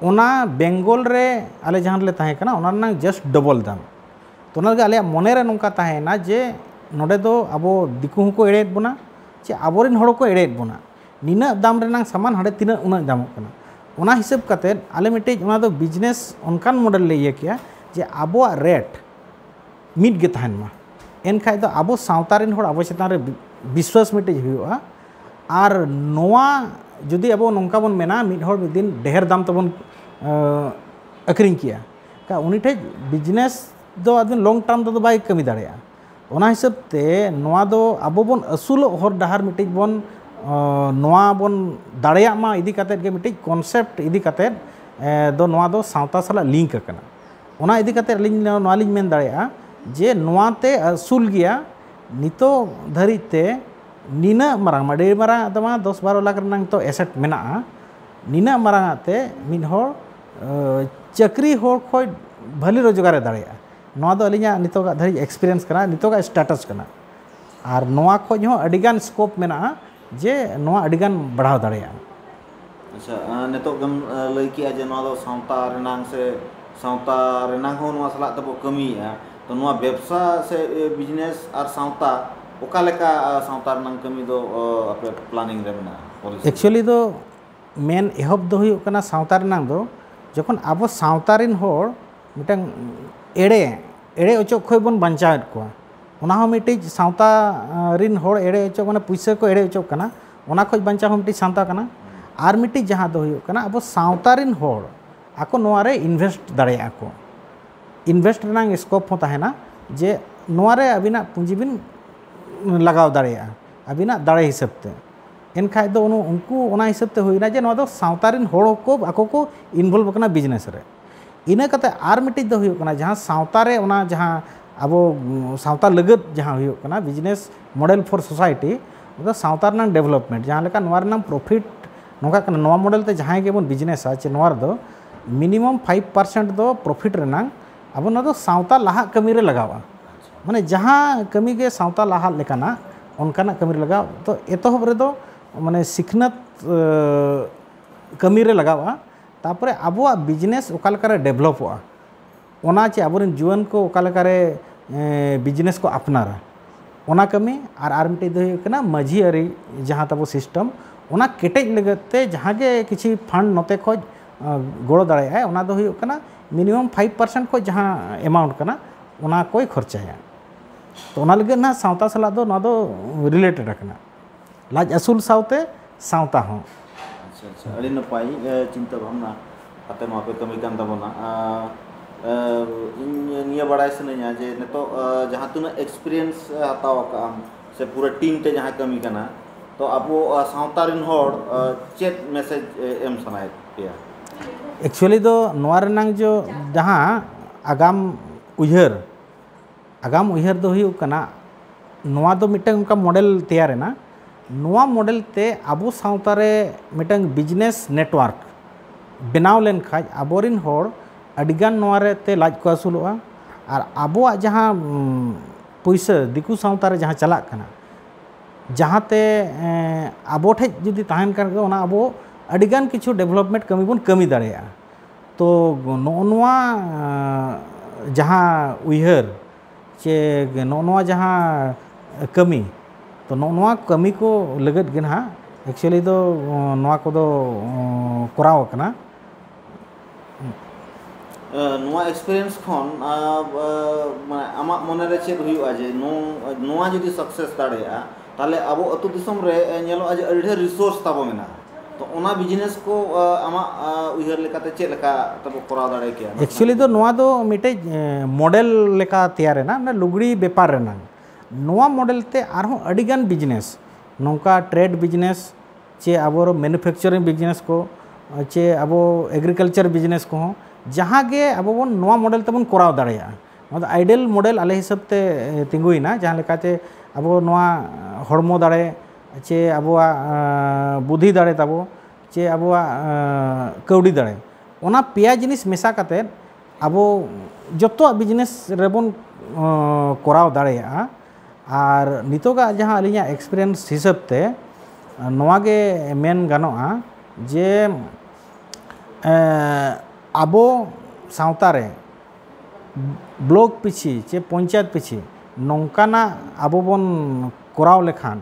ᱚᱱᱟ ᱵᱮᱝᱜᱚᱞ ᱨᱮ ᱟᱞᱮ ᱡᱟᱦᱟᱸ ᱨᱮᱞᱮ ᱛᱟᱦᱮᱸ ᱠᱟᱱᱟ ᱚᱱᱟ ᱨᱮᱱᱟᱜ ᱡᱟᱥᱴ ᱰᱚᱵᱚᱞ ᱫᱟᱢ ᱛᱚ ᱚᱱᱟ ᱞᱟᱹᱜᱤᱫ ᱟᱞᱮᱭᱟᱜ ᱢᱚᱱᱮ ᱨᱮ ᱱᱚᱝᱠᱟ ᱛᱟᱦᱮᱸᱭᱮᱱᱟ ᱡᱮ ᱱᱚᱰᱮ ᱫᱚ ᱟᱵᱚ ᱫᱤᱠᱩ ᱦᱚᱸᱠᱚ ᱮᱲᱮᱭᱮᱫ ᱵᱚᱱᱟ ᱡᱮ ᱟᱵᱚ ᱨᱮᱱ ᱦᱚᱲ ᱠᱚ ᱮᱲᱮᱭᱮᱫ ᱵᱚᱱᱟ ᱱᱤᱱᱟᱹᱜ ᱫᱟᱢ ᱨᱮᱱᱟᱜ ᱥᱟᱢᱟᱱ ᱦᱟᱸᱰᱮ ᱛᱤᱱᱟᱹᱜ ᱩᱱᱟᱹᱜ ᱧᱟᱢᱚᱜ ᱠᱟᱱᱟ ᱚᱱᱟ ᱦᱤᱥᱟᱹᱵ ᱠᱟᱛᱮ ᱟᱞᱮ ᱢᱤᱫᱴᱮᱡ ᱚᱱᱟ ᱫᱚ ᱵᱤᱡᱽᱱᱮᱥ ᱚᱱᱠᱟᱱ ᱢᱚᱰᱮᱞ ᱞᱮ ᱤᱭᱟᱹ ᱠᱮᱜᱼᱟ ᱡᱮ ᱟᱵᱚᱣᱟᱜ ᱨᱮᱴ ᱢᱤᱫ ᱜᱮ ᱛᱟᱦᱮᱱ ᱢᱟ ᱮᱱᱠᱷᱟᱡ ᱫᱚ ᱟᱵᱚ ᱥᱟᱶᱛᱟ ᱨᱮᱱ ᱦᱚᱲ ᱟᱵᱚ ᱪᱮᱛᱟᱱ ᱨᱮ ᱵᱤᱥᱣᱟᱥ ᱢᱤᱫᱴᱮᱡ ᱦᱩᱭᱩᱜᱼᱟ ᱟᱨ ᱱᱚᱣᱟ ᱡᱩᱫᱤ ᱟᱵᱚ ᱱᱚᱝᱠᱟ ᱵᱚᱱ ᱢᱮᱱᱟ ᱢᱤᱫ ᱦᱚᱲ ᱢᱤᱫ ᱫᱤᱱ ᱰᱷᱮᱨ ᱫᱟᱢ ᱛᱮᱵᱚᱱ ᱟᱹᱠᱷᱨᱤᱧ ᱠᱮᱜᱼᱟ ᱩᱱᱤ ᱴᱷᱮᱡ ᱵᱤᱡᱽᱱᱮᱥ ᱫᱚ ᱟᱫᱚ ᱞᱚᱝ ᱴᱟᱨᱢ ᱛᱮᱫᱚ ᱵᱟᱭ ᱠᱟᱹᱢᱤ ᱫᱟᱲᱮᱭᱟᱜᱼᱟ ᱚᱱᱟ ᱦᱤᱥᱟᱹᱵ ᱛᱮ ᱱᱚᱣᱟ ᱫᱚ ᱟᱵᱚ ᱵᱚᱱ ᱟᱹᱥᱩᱞᱚᱜ ᱦᱚᱨ ᱰᱟᱦᱟᱨ ᱢᱤᱫᱴᱤᱡ ᱵᱚᱱ ᱱᱚᱣᱟ ᱵᱚᱱ ᱫᱟᱲᱮᱭᱟᱜ ᱢᱟ ᱤᱫᱤ ᱠᱟᱛᱮᱫ ᱜᱮ ᱢᱤᱫᱴᱤᱡ ᱠᱚᱱᱥᱮᱯᱴ ᱤᱫᱤ ᱠᱟᱛᱮᱫ ᱫᱚ ᱱᱚᱣᱟ ᱫᱚ ᱥᱟᱶᱛᱟ ᱥᱟᱞᱟᱜ ᱞᱤᱝᱠ ᱟᱠᱟᱱᱟ ᱚᱱᱟ ᱤᱫᱤ ᱠᱟᱛᱮᱫ ᱟᱹᱞᱤᱧ ᱱᱚᱣᱟ ᱞᱤᱧ ᱢᱮᱱ ᱫᱟᱲᱮᱭᱟᱜᱼᱟ ᱡᱮ ᱱᱚᱣᱟ ᱛᱮ ᱟᱹᱥᱩᱞ ᱜᱮᱭᱟ ᱱᱤᱛᱚᱜ ᱫᱷᱟᱹᱨᱤᱡ ᱛᱮ ᱱᱤᱱᱟᱹᱜ ᱢᱟᱨᱟᱝ ᱟᱹᱰᱤ ᱢᱟᱨᱟᱝ ᱟᱜ ᱫᱚ ᱵᱟᱝ ᱫᱚᱥ ᱵᱟᱨᱚ ᱞᱟᱠᱷ ᱨᱮᱱᱟᱜ ᱱᱤᱛᱚᱜ ᱮᱥᱮᱴ ᱢᱮᱱᱟᱜᱼᱟ ᱱᱤᱱᱟᱹᱜ ᱢᱟᱨᱟᱝ ᱟᱜ ᱛᱮ ᱢᱤᱫ ᱦᱚᱲ ᱪᱟᱹᱠᱨᱤ ᱦᱚᱲ ᱠᱷᱚᱱ ᱵᱷᱟᱹᱞᱤ ᱨᱳᱡᱽᱜᱟᱨᱮ ᱫᱟᱲᱮᱭᱟᱜᱼᱟ ᱱᱚᱣᱟ ᱫᱚ ᱟᱹᱞᱤᱧᱟᱜ ᱱᱤᱛᱚᱜᱟᱜ ᱫᱷᱟᱹᱨᱤᱡ ᱮᱠᱥᱯᱮᱨᱤᱭᱮᱱᱥ ᱠᱟᱱᱟ ᱱᱤᱛᱚᱜᱟᱜ ᱥᱴᱮᱴᱟᱥ ᱠᱟᱱᱟ ᱟᱨ ᱱᱚᱣᱟ ᱠᱷᱚᱱ ᱦᱚᱸ ᱟᱹᱰᱤᱜᱟᱱ ᱥᱠᱳᱯ ᱢᱮᱱᱟᱜᱼᱟ ᱡᱮ ᱱᱚᱣᱟ ᱟᱹᱰᱤᱜᱟᱱ ᱵᱟᱲᱦᱟᱣ ᱫᱟᱲᱮᱭᱟᱜᱼᱟ ᱟᱪᱪᱷᱟ ᱱᱤᱛᱚᱜ ᱜᱮᱢ ᱞᱟᱹᱭ ᱠᱮᱜᱼᱟ ᱡᱮ ᱱᱚᱣᱟ ᱫᱚ ᱥᱟᱶᱛᱟ ᱨᱮᱱᱟᱝ ᱥᱮ ᱥᱟᱶᱛᱟ ᱨᱮᱱᱟᱝ ᱦᱚᱸ ᱱᱚᱣᱟ ᱥᱟᱞᱟᱜ ᱛᱮᱵᱚ ᱠᱟᱹᱢᱤᱭᱮᱜᱼᱟ ᱛᱚ ᱱᱚᱣᱟ ᱵᱮᱵᱽᱥᱟ ᱥᱮ ᱵᱤᱡᱽᱱᱮᱥ ᱟᱨ ᱥᱟᱶᱛᱟ ᱚᱠᱟ ᱞᱮᱠᱟ ᱥᱟᱶᱛᱟ ᱨᱮᱱᱟᱝ ᱠᱟᱹᱢᱤ ᱫᱚ ᱟᱯᱮ ᱯᱞᱟᱱᱤᱝ ᱨᱮ ᱢᱮᱱᱟᱜᱼᱟ ᱮᱠᱪᱩᱭᱮᱞᱤ ᱫᱚ ᱢᱮᱱ ᱮᱦᱚᱵ ᱫᱚ ᱦᱩᱭᱩᱜ ᱠᱟᱱᱟ ᱥᱟᱶᱛᱟ ᱨᱮᱱᱟᱝ ᱫᱚ ᱡᱚᱠᱷᱚᱱ ᱟᱵᱚ ᱥᱟᱶᱛᱟ ᱨᱮᱱ ᱦᱚᱲ ᱢᱤᱫᱴᱟᱝ ᱮᱲᱮ ᱮᱲᱮ ᱚᱪᱚᱜ ᱠᱷᱚᱱ ᱵᱚᱱ ᱵᱟᱧᱪᱟᱣᱮᱫ ᱠᱚᱣᱟ ᱚᱱᱟ ᱦᱚᱸ ᱢᱤᱫᱴᱤᱡ ᱥᱟᱶᱛᱟ ᱨᱤᱱ ᱦᱚᱲ ᱮᱲᱮ ᱚᱪᱚᱜ ᱢᱟᱱᱮ ᱯᱩᱭᱥᱟᱹ ᱠᱚ ᱮᱲᱮ ᱚᱪᱚᱜ ᱠᱟᱱᱟ ᱚᱱᱟ ᱠᱷᱚᱱ ᱵᱟᱧᱪᱟᱣ ᱦᱚᱸ ᱢᱤᱫᱴᱤᱡ ᱥᱟᱶᱛᱟ ᱠᱟᱱᱟ ᱟᱨ ᱢᱤᱫᱴᱤᱡ ᱡᱟᱦᱟᱸ ᱫᱚ ᱦᱩᱭᱩᱜ ᱠᱟᱱᱟ ᱟᱵᱚ ᱥᱟᱶᱛᱟ ᱨᱤᱱ ᱦᱚᱲ ᱟᱠᱚ ᱱᱚᱣᱟ ᱨᱮ ᱤᱱᱵᱷᱮᱥᱴ ᱫᱟᱲᱮᱭᱟᱜᱼᱟ ᱠᱚ ᱤᱱᱵᱷᱮᱥᱴ ᱨᱮᱱᱟᱜ ᱥᱠᱳᱯ ᱦᱚᱸ ᱛᱟᱦᱮᱱᱟ ᱡᱮ ᱱᱚᱣᱟ ᱨᱮ ᱟᱹᱵᱤᱱᱟᱜ ᱯᱩᱸᱡᱤ ᱵᱤᱱ ᱞᱟᱜᱟᱣ ᱫᱟᱲᱮᱭᱟᱜᱼᱟ ᱟᱹᱵᱤᱱᱟᱜ ᱫᱟᱲᱮ ᱦᱤᱥᱟᱹᱵ ᱛᱮ ᱮᱱᱠᱷᱟᱱ ᱫᱚ ᱩᱱᱠᱩ ᱚᱱᱟ ᱦᱤᱥᱟᱹᱵ ᱛᱮ ᱦᱩᱭᱱᱟ ᱡᱮ ᱱᱚᱣᱟ ᱫᱚ ᱥᱟᱶᱛᱟ ᱨᱤᱱ ᱦᱚᱲ ᱠᱚ ᱟᱠᱚ ᱠᱚ ᱤᱱᱵᱷᱚᱞᱵᱷ ᱟᱠᱟᱱᱟ ᱵᱤᱡᱽᱱᱮᱥ ᱨᱮ ᱤᱱᱟᱹ ᱠᱟᱛᱮ ᱟᱨ ᱢᱤᱫᱴᱤᱡ ᱫᱚ ᱦᱩᱭᱩᱜ ᱠᱟᱱᱟ ᱡᱟᱦᱟᱸ ᱥᱟᱶᱛᱟ ᱨᱮ ᱚᱱᱟ ᱡᱟᱦᱟᱸ ᱟᱵᱚ ᱥᱟᱶᱛᱟ ᱞᱟᱹᱜᱤᱫ ᱡᱟᱦᱟᱸ ᱦᱩᱭᱩᱜ ᱠᱟᱱᱟ ᱵᱤᱡᱽᱱᱮᱥ ᱢᱚᱰᱮᱞ ᱯᱷᱚᱨ ᱥᱳᱥᱟᱭᱴᱤ ᱚᱱᱟ ᱥᱟᱶᱛᱟ ᱨᱮᱱᱟᱜ ᱰᱮᱵᱷᱞᱚᱯᱢᱮᱱᱴ ᱡᱟᱦᱟᱸ ᱞᱮᱠᱟ ᱱᱚᱣᱟ ᱨᱮᱱᱟᱜ ᱯᱨᱚᱯᱷᱤᱴ ᱱᱚᱝᱠᱟ ᱠᱟᱱᱟ ᱱᱚᱣᱟ ᱢᱚᱰᱮᱞ ᱛᱮ ᱡᱟᱦᱟᱸᱭ ᱜᱮᱵᱚᱱ ᱵᱤᱡᱽᱱᱮᱥᱟ ᱥᱮ ᱱᱚᱣᱟ ᱨᱮᱫᱚ ᱢᱤᱱᱤᱢᱟᱢ ᱯᱷᱟᱭᱤᱵᱷ ᱯᱟᱨᱥᱮᱱᱴ ᱫᱚ ᱯᱨᱚᱯᱷᱤᱴ ᱨᱮᱱᱟᱜ ᱟᱵᱚ ᱱᱚᱣᱟ ᱫᱚ ᱥᱟᱶᱛᱟ ᱞᱟᱦᱟᱜ ᱠᱟᱹᱢᱤ ᱨᱮ ᱞᱟᱜᱟᱜᱼᱟ ᱢᱟᱱᱮ ᱡᱟᱦᱟᱸ ᱠᱟᱹᱢᱤ ᱜᱮ ᱥᱟᱶᱛᱟ ᱞᱟᱦᱟᱜ ᱞᱮᱠᱟᱱᱟᱜ ᱚᱱᱠᱟᱱᱟᱜ ᱠᱟᱹᱢᱤ ᱨᱮ ᱞᱟᱜᱟᱜᱼᱟ ᱛᱚ ᱮᱛᱚᱦᱚᱵ ᱨᱮᱫᱚ ᱢᱟᱱᱮ ᱥᱤᱠᱷᱱᱟᱹᱛ ᱠᱟᱹᱢᱤ ᱨᱮ ᱞᱟᱜᱟᱜᱼᱟ ᱛᱟᱨᱯᱚᱨᱮ ᱟᱵᱚᱣᱟᱜ ᱵᱤᱡᱽᱱᱮᱥ ᱚᱠᱟ ᱞᱮᱠᱟᱨᱮ ᱰᱮᱵᱷᱞᱚᱯᱚᱜᱼᱟ ᱚᱱᱟ ᱪᱮ ᱟᱵᱚᱨᱮᱱ ᱡᱩᱣᱟᱹᱱ ᱠᱚ ᱚᱠᱟ ᱞᱮᱠᱟᱨᱮ ᱵᱤᱡᱽᱱᱮᱥ ᱠᱚ ᱟᱯᱱᱟᱨᱟ ᱚᱱᱟ ᱠᱟᱹᱢᱤ ᱟᱨ ᱟᱨ ᱢᱤᱫᱴᱮᱱ ᱫᱚ ᱦᱩᱭᱩᱜ ᱠᱟᱱᱟ ᱢᱟᱹᱡᱷᱤ ᱟᱹᱨᱤ ᱡᱟᱦᱟᱸ ᱛᱟᱵᱚ ᱥᱤᱥᱴᱮᱢ ᱚᱱᱟ ᱠᱮᱴᱮᱡ ᱞᱟᱹᱜᱤᱫ ᱛᱮ ᱡᱟᱦᱟᱸ ᱜᱮ ᱠᱤᱪᱷᱩ ᱯᱷᱟᱱᱰ ᱱᱚᱛᱮ ᱠᱷᱚᱱ ᱜᱚᱲᱚ ᱫᱟᱲᱮᱭᱟᱜᱼᱟᱭ ᱚᱱᱟ ᱫᱚ ᱦᱩᱭᱩᱜ ᱠᱟᱱᱟ ᱢᱤᱱᱤᱢᱟᱢ ᱯᱷᱟᱭᱤᱵᱽ ᱯᱟᱨᱥᱮᱱᱴ ᱠᱷᱚᱱ ᱡᱟᱦᱟᱸ ᱮᱢᱟᱣᱩᱱᱴ ᱠᱟᱱᱟ ᱚᱱᱟ ᱠᱚᱭ ᱠᱷᱚᱨᱪᱟᱭᱟ ᱛᱚ ᱚᱱᱟ ᱞᱟᱹᱜᱤᱫ ᱱᱟᱦᱟᱜ ᱥᱟᱶᱛᱟ ᱥᱟᱞᱟᱜ ᱫᱚ ᱱᱚᱣᱟ ᱫᱚ ᱨᱤᱞᱮᱴᱮᱰ ᱟᱠᱟᱱᱟ ᱞᱟᱡ ᱟᱹᱥᱩᱞ ᱥᱟᱶᱛᱮ ᱥᱟᱶᱛᱟ ᱦᱚᱸ᱾ ᱟᱪᱪᱷᱟ ᱟᱪᱪᱷᱟ ᱟᱹᱰᱤ ᱱᱟᱯᱟᱭ ᱪᱤᱱᱛᱟᱹ ᱵᱷᱟᱵᱽᱱᱟ ᱠᱟᱛᱮ ᱱᱚᱣᱟ ᱯᱮ ᱠᱟᱹᱢᱤ ᱠᱟᱱ ᱛᱟᱵᱚᱱᱟ᱾ ᱤᱧ ᱱᱤᱭᱟᱹ ᱵᱟᱲᱟᱭ ᱥᱟᱱᱟᱹᱧᱟ ᱡᱮ ᱱᱤᱛᱚᱜ ᱡᱟᱦᱟᱸ ᱛᱤᱱᱟᱹᱜ ᱮᱠᱥᱯᱮᱨᱤᱭᱮᱱᱥ ᱦᱟᱛᱟᱣ ᱟᱠᱟᱫ ᱟᱢ ᱥᱮ ᱯᱩᱨᱟᱹ ᱴᱤᱢ ᱛᱮ ᱡᱟᱦᱟᱸ ᱠᱟᱹᱢᱤ ᱠᱟᱱᱟ ᱛᱚ ᱟᱵᱚ ᱥᱟᱶᱛᱟ ᱨᱮᱱ ᱦᱚᱲ ᱪᱮᱫ ᱢᱮᱥᱮᱡᱽ ᱮᱢ ᱥᱟᱱᱟᱭᱮᱫ ᱯᱮᱭᱟ? ᱮᱠᱪᱩᱭᱮᱞᱤ ᱫᱚ ᱱᱚᱣᱟ ᱨᱮᱱᱟᱝ ᱡᱚ ᱡᱟᱦᱟᱸ ᱟᱜᱟᱢ ᱩᱭᱦᱟᱹᱨ ᱟᱜᱟᱢ ᱩᱭᱦᱟᱹᱨ ᱫᱚ ᱦᱩᱭᱩᱜ ᱠᱟᱱᱟ ᱱᱚᱣᱟ ᱫᱚ ᱢᱤᱫᱴᱟᱝ ᱚᱱᱠᱟ ᱢᱚᱰᱮᱞ ᱛᱮᱭᱟᱨ ᱮᱱᱟ ᱱᱚᱣᱟ ᱢᱚᱰᱮᱞ ᱛᱮ ᱟᱵᱚ ᱥᱟᱶᱛᱟ ᱨᱮ ᱢᱤᱫᱴᱟᱝ ᱵᱤᱡᱽᱱᱮᱥ ᱱᱮᱴᱣᱟᱨᱠ ᱵᱮᱱᱟᱣ ᱞᱮᱱᱠᱷᱟᱱ ᱟᱵᱚᱨᱮᱱ ᱦᱚᱲ ᱟᱹᱰᱤ ᱜᱟᱱ ᱱᱚᱣᱟ ᱨᱮ ᱛᱮ ᱞᱟᱡ ᱠᱚ ᱟᱹᱥᱩᱞᱚᱜᱼᱟ ᱟᱨ ᱟᱵᱚᱣᱟᱜ ᱡᱟᱦᱟᱸ ᱯᱩᱭᱥᱟᱹ ᱫᱤᱠᱩ ᱥᱟᱶᱛᱟ ᱨᱮ ᱡᱟᱦᱟᱸ ᱪᱟᱞᱟᱜ ᱠᱟᱱᱟ ᱡᱟᱦᱟᱸ ᱛᱮ ᱟᱵᱚ ᱴᱷᱮᱱ ᱡᱩᱫᱤ ᱛᱟᱦᱮᱱ ᱠᱷᱟᱱ ᱜᱮ ᱚᱱᱟ ᱟᱵᱚ ᱟᱹᱰᱤ ᱜᱟᱱ ᱠᱤᱪᱷᱩ ᱰᱮᱵᱷᱞᱚᱯᱢᱮᱱᱴ ᱠᱟᱹᱢᱤ ᱵᱚᱱ ᱠᱟᱹᱢᱤ ᱫᱟᱲᱮᱭᱟᱜᱼᱟ ᱛᱚ ᱱᱚᱜᱼᱚ ᱱᱚᱣᱟ ᱡᱟᱦᱟᱸ ᱩᱭᱦᱟᱹᱨ ᱪᱮ ᱱᱚᱜᱼᱚ ᱱᱚᱣᱟ ᱡᱟᱦᱟᱸ ᱠᱟᱹᱢᱤ ᱛᱚ ᱱᱚᱜᱼᱚ ᱱᱚᱣᱟ ᱠᱟᱹᱢᱤ ᱠᱚ ᱞᱟᱹᱜᱤᱫ ᱜᱮ ᱱᱟᱦᱟᱜ ᱮᱠᱪᱩᱭᱮᱞᱤ ᱫᱚ ᱱᱚᱣᱟ ᱠᱚᱫᱚ ᱠᱚᱨᱟᱣ ᱠᱟᱱᱟ ᱱᱚᱣᱟ ᱮᱠᱥᱯᱮᱨᱤᱭᱮᱱᱥ ᱠᱷᱚᱱ ᱟᱢᱟᱜ ᱢᱚᱱᱮᱨᱮ ᱪᱮᱫ ᱦᱩᱭᱩᱜᱼᱟ ᱡᱮ ᱱᱚᱣᱟ ᱡᱩᱫᱤ ᱥᱟᱠᱥᱮᱥ ᱫᱟᱲᱮᱭᱟᱜᱼᱟ ᱛᱟᱦᱚᱞᱮ ᱟᱵᱚ ᱟᱹᱛᱩ ᱫᱤᱥᱚᱢ ᱨᱮ ᱧᱮᱞᱚᱜᱼᱟ ᱡᱮ ᱟᱹᱰᱤ ᱰᱷᱮᱨ ᱨᱤᱥᱳᱨᱥ ᱛᱟᱵᱚ ᱢᱮᱱᱟᱜᱼᱟ ᱛᱚ ᱚᱱᱟ ᱵᱤᱡᱽᱱᱮᱥ ᱠᱚ ᱟᱢᱟᱜ ᱩᱭᱦᱟᱹᱨ ᱞᱮᱠᱟᱛᱮ ᱪᱮᱫ ᱞᱮᱠᱟ ᱛᱮᱵᱚ ᱠᱚᱨᱟᱣ ᱫᱟᱲᱮ ᱠᱮᱭᱟ ᱮᱠᱪᱩᱭᱮᱞᱤ ᱫᱚ ᱱᱚᱣᱟ ᱫᱚ ᱢᱤᱫᱴᱮᱡ ᱢᱚᱰᱮᱞ ᱞᱮᱠᱟ ᱛᱮᱭᱟᱨ ᱮᱱᱟ ᱚᱱᱟ ᱞᱩᱜᱽᱲᱤ ᱵᱮᱯᱟᱨ ᱨᱮᱱᱟᱜ ᱱᱚᱣᱟ ᱢᱚᱰᱮᱞ ᱛᱮ ᱟᱨᱦᱚᱸ ᱟᱹᱰᱤ ᱜᱟᱱ ᱵᱤᱡᱽᱱᱮᱥ ᱱᱚᱝᱠᱟ ᱴᱨᱮᱰ ᱵᱤᱡᱽᱱᱮᱥ ᱪᱮ ᱟᱵᱚ ᱢᱮᱱᱩᱯᱷᱮᱠᱪᱟᱨᱤᱝ ᱵᱤᱡᱽᱱᱮᱥ ᱠᱚ ᱪᱮ ᱟᱵᱚ ᱮᱜᱽᱨᱤᱠᱟᱞᱪᱟᱨ ᱵᱤᱡᱽᱱᱮᱥ ᱠᱚᱦᱚᱸ ᱡᱟᱦᱟᱸ ᱜᱮ ᱟᱵᱚ ᱵᱚᱱ ᱱᱚᱣᱟ ᱢᱚᱰᱮᱞ ᱛᱮᱵᱚᱱ ᱠᱚᱨᱟᱣ ᱫᱟᱲᱮᱭᱟᱜᱼᱟ ᱱᱚᱣᱟ ᱫᱚ ᱟᱭᱰᱮᱞ ᱢᱚᱰᱮᱞ ᱟᱞᱮ ᱦᱤᱥᱟᱹᱵ ᱛᱮ ᱛᱤᱸᱜᱩᱭᱮᱱᱟ ᱡᱟᱦᱟᱸ ᱞᱮᱠᱟᱛᱮ ᱟᱵᱚ ᱱᱚᱣᱟ ᱦᱚᱲᱢᱚ ᱫᱟᱲᱮ ᱪᱮ ᱟᱵᱚᱣᱟᱜ ᱵᱩᱫᱷᱤ ᱫᱟᱲᱮ ᱛᱟᱵᱚ ᱪᱮ ᱟᱵᱚᱣᱟᱜ ᱠᱟᱹᱣᱰᱤ ᱫᱟᱲᱮ ᱚᱱᱟ ᱯᱮᱭᱟ ᱡᱤᱱᱤᱥ ᱢᱮᱥᱟ ᱠᱟᱛᱮᱫ ᱟᱵᱚ ᱡᱚᱛᱚᱣᱟᱜ ᱵᱤᱡᱽᱱᱮᱥ ᱨᱮᱵᱚᱱ ᱠᱚᱨᱟᱣ ᱫᱟᱲᱮᱭᱟᱜᱼᱟ ᱟᱨ ᱱᱤᱛᱚᱜᱟᱜ ᱡᱟᱦᱟᱸ ᱟᱹᱞᱤᱧᱟᱜ ᱮᱠᱥᱯᱨᱤᱭᱮᱱᱥ ᱦᱤᱥᱟᱹᱵ ᱛᱮ ᱱᱚᱣᱟ ᱜᱮ ᱢᱮᱱ ᱜᱟᱱᱚᱜᱼᱟ ᱡᱮ ᱟᱵᱚ ᱥᱟᱶᱛᱟ ᱨᱮ ᱵᱞᱚᱠ ᱯᱤᱪᱷᱤ ᱥᱮ ᱯᱚᱧᱪᱟᱭᱮᱛ ᱯᱤᱪᱷᱤ ᱱᱚᱝᱠᱟᱱᱟᱜ ᱟᱵᱚ ᱵᱚᱱ ᱠᱚᱨᱟᱣ ᱞᱮᱠᱷᱟᱱ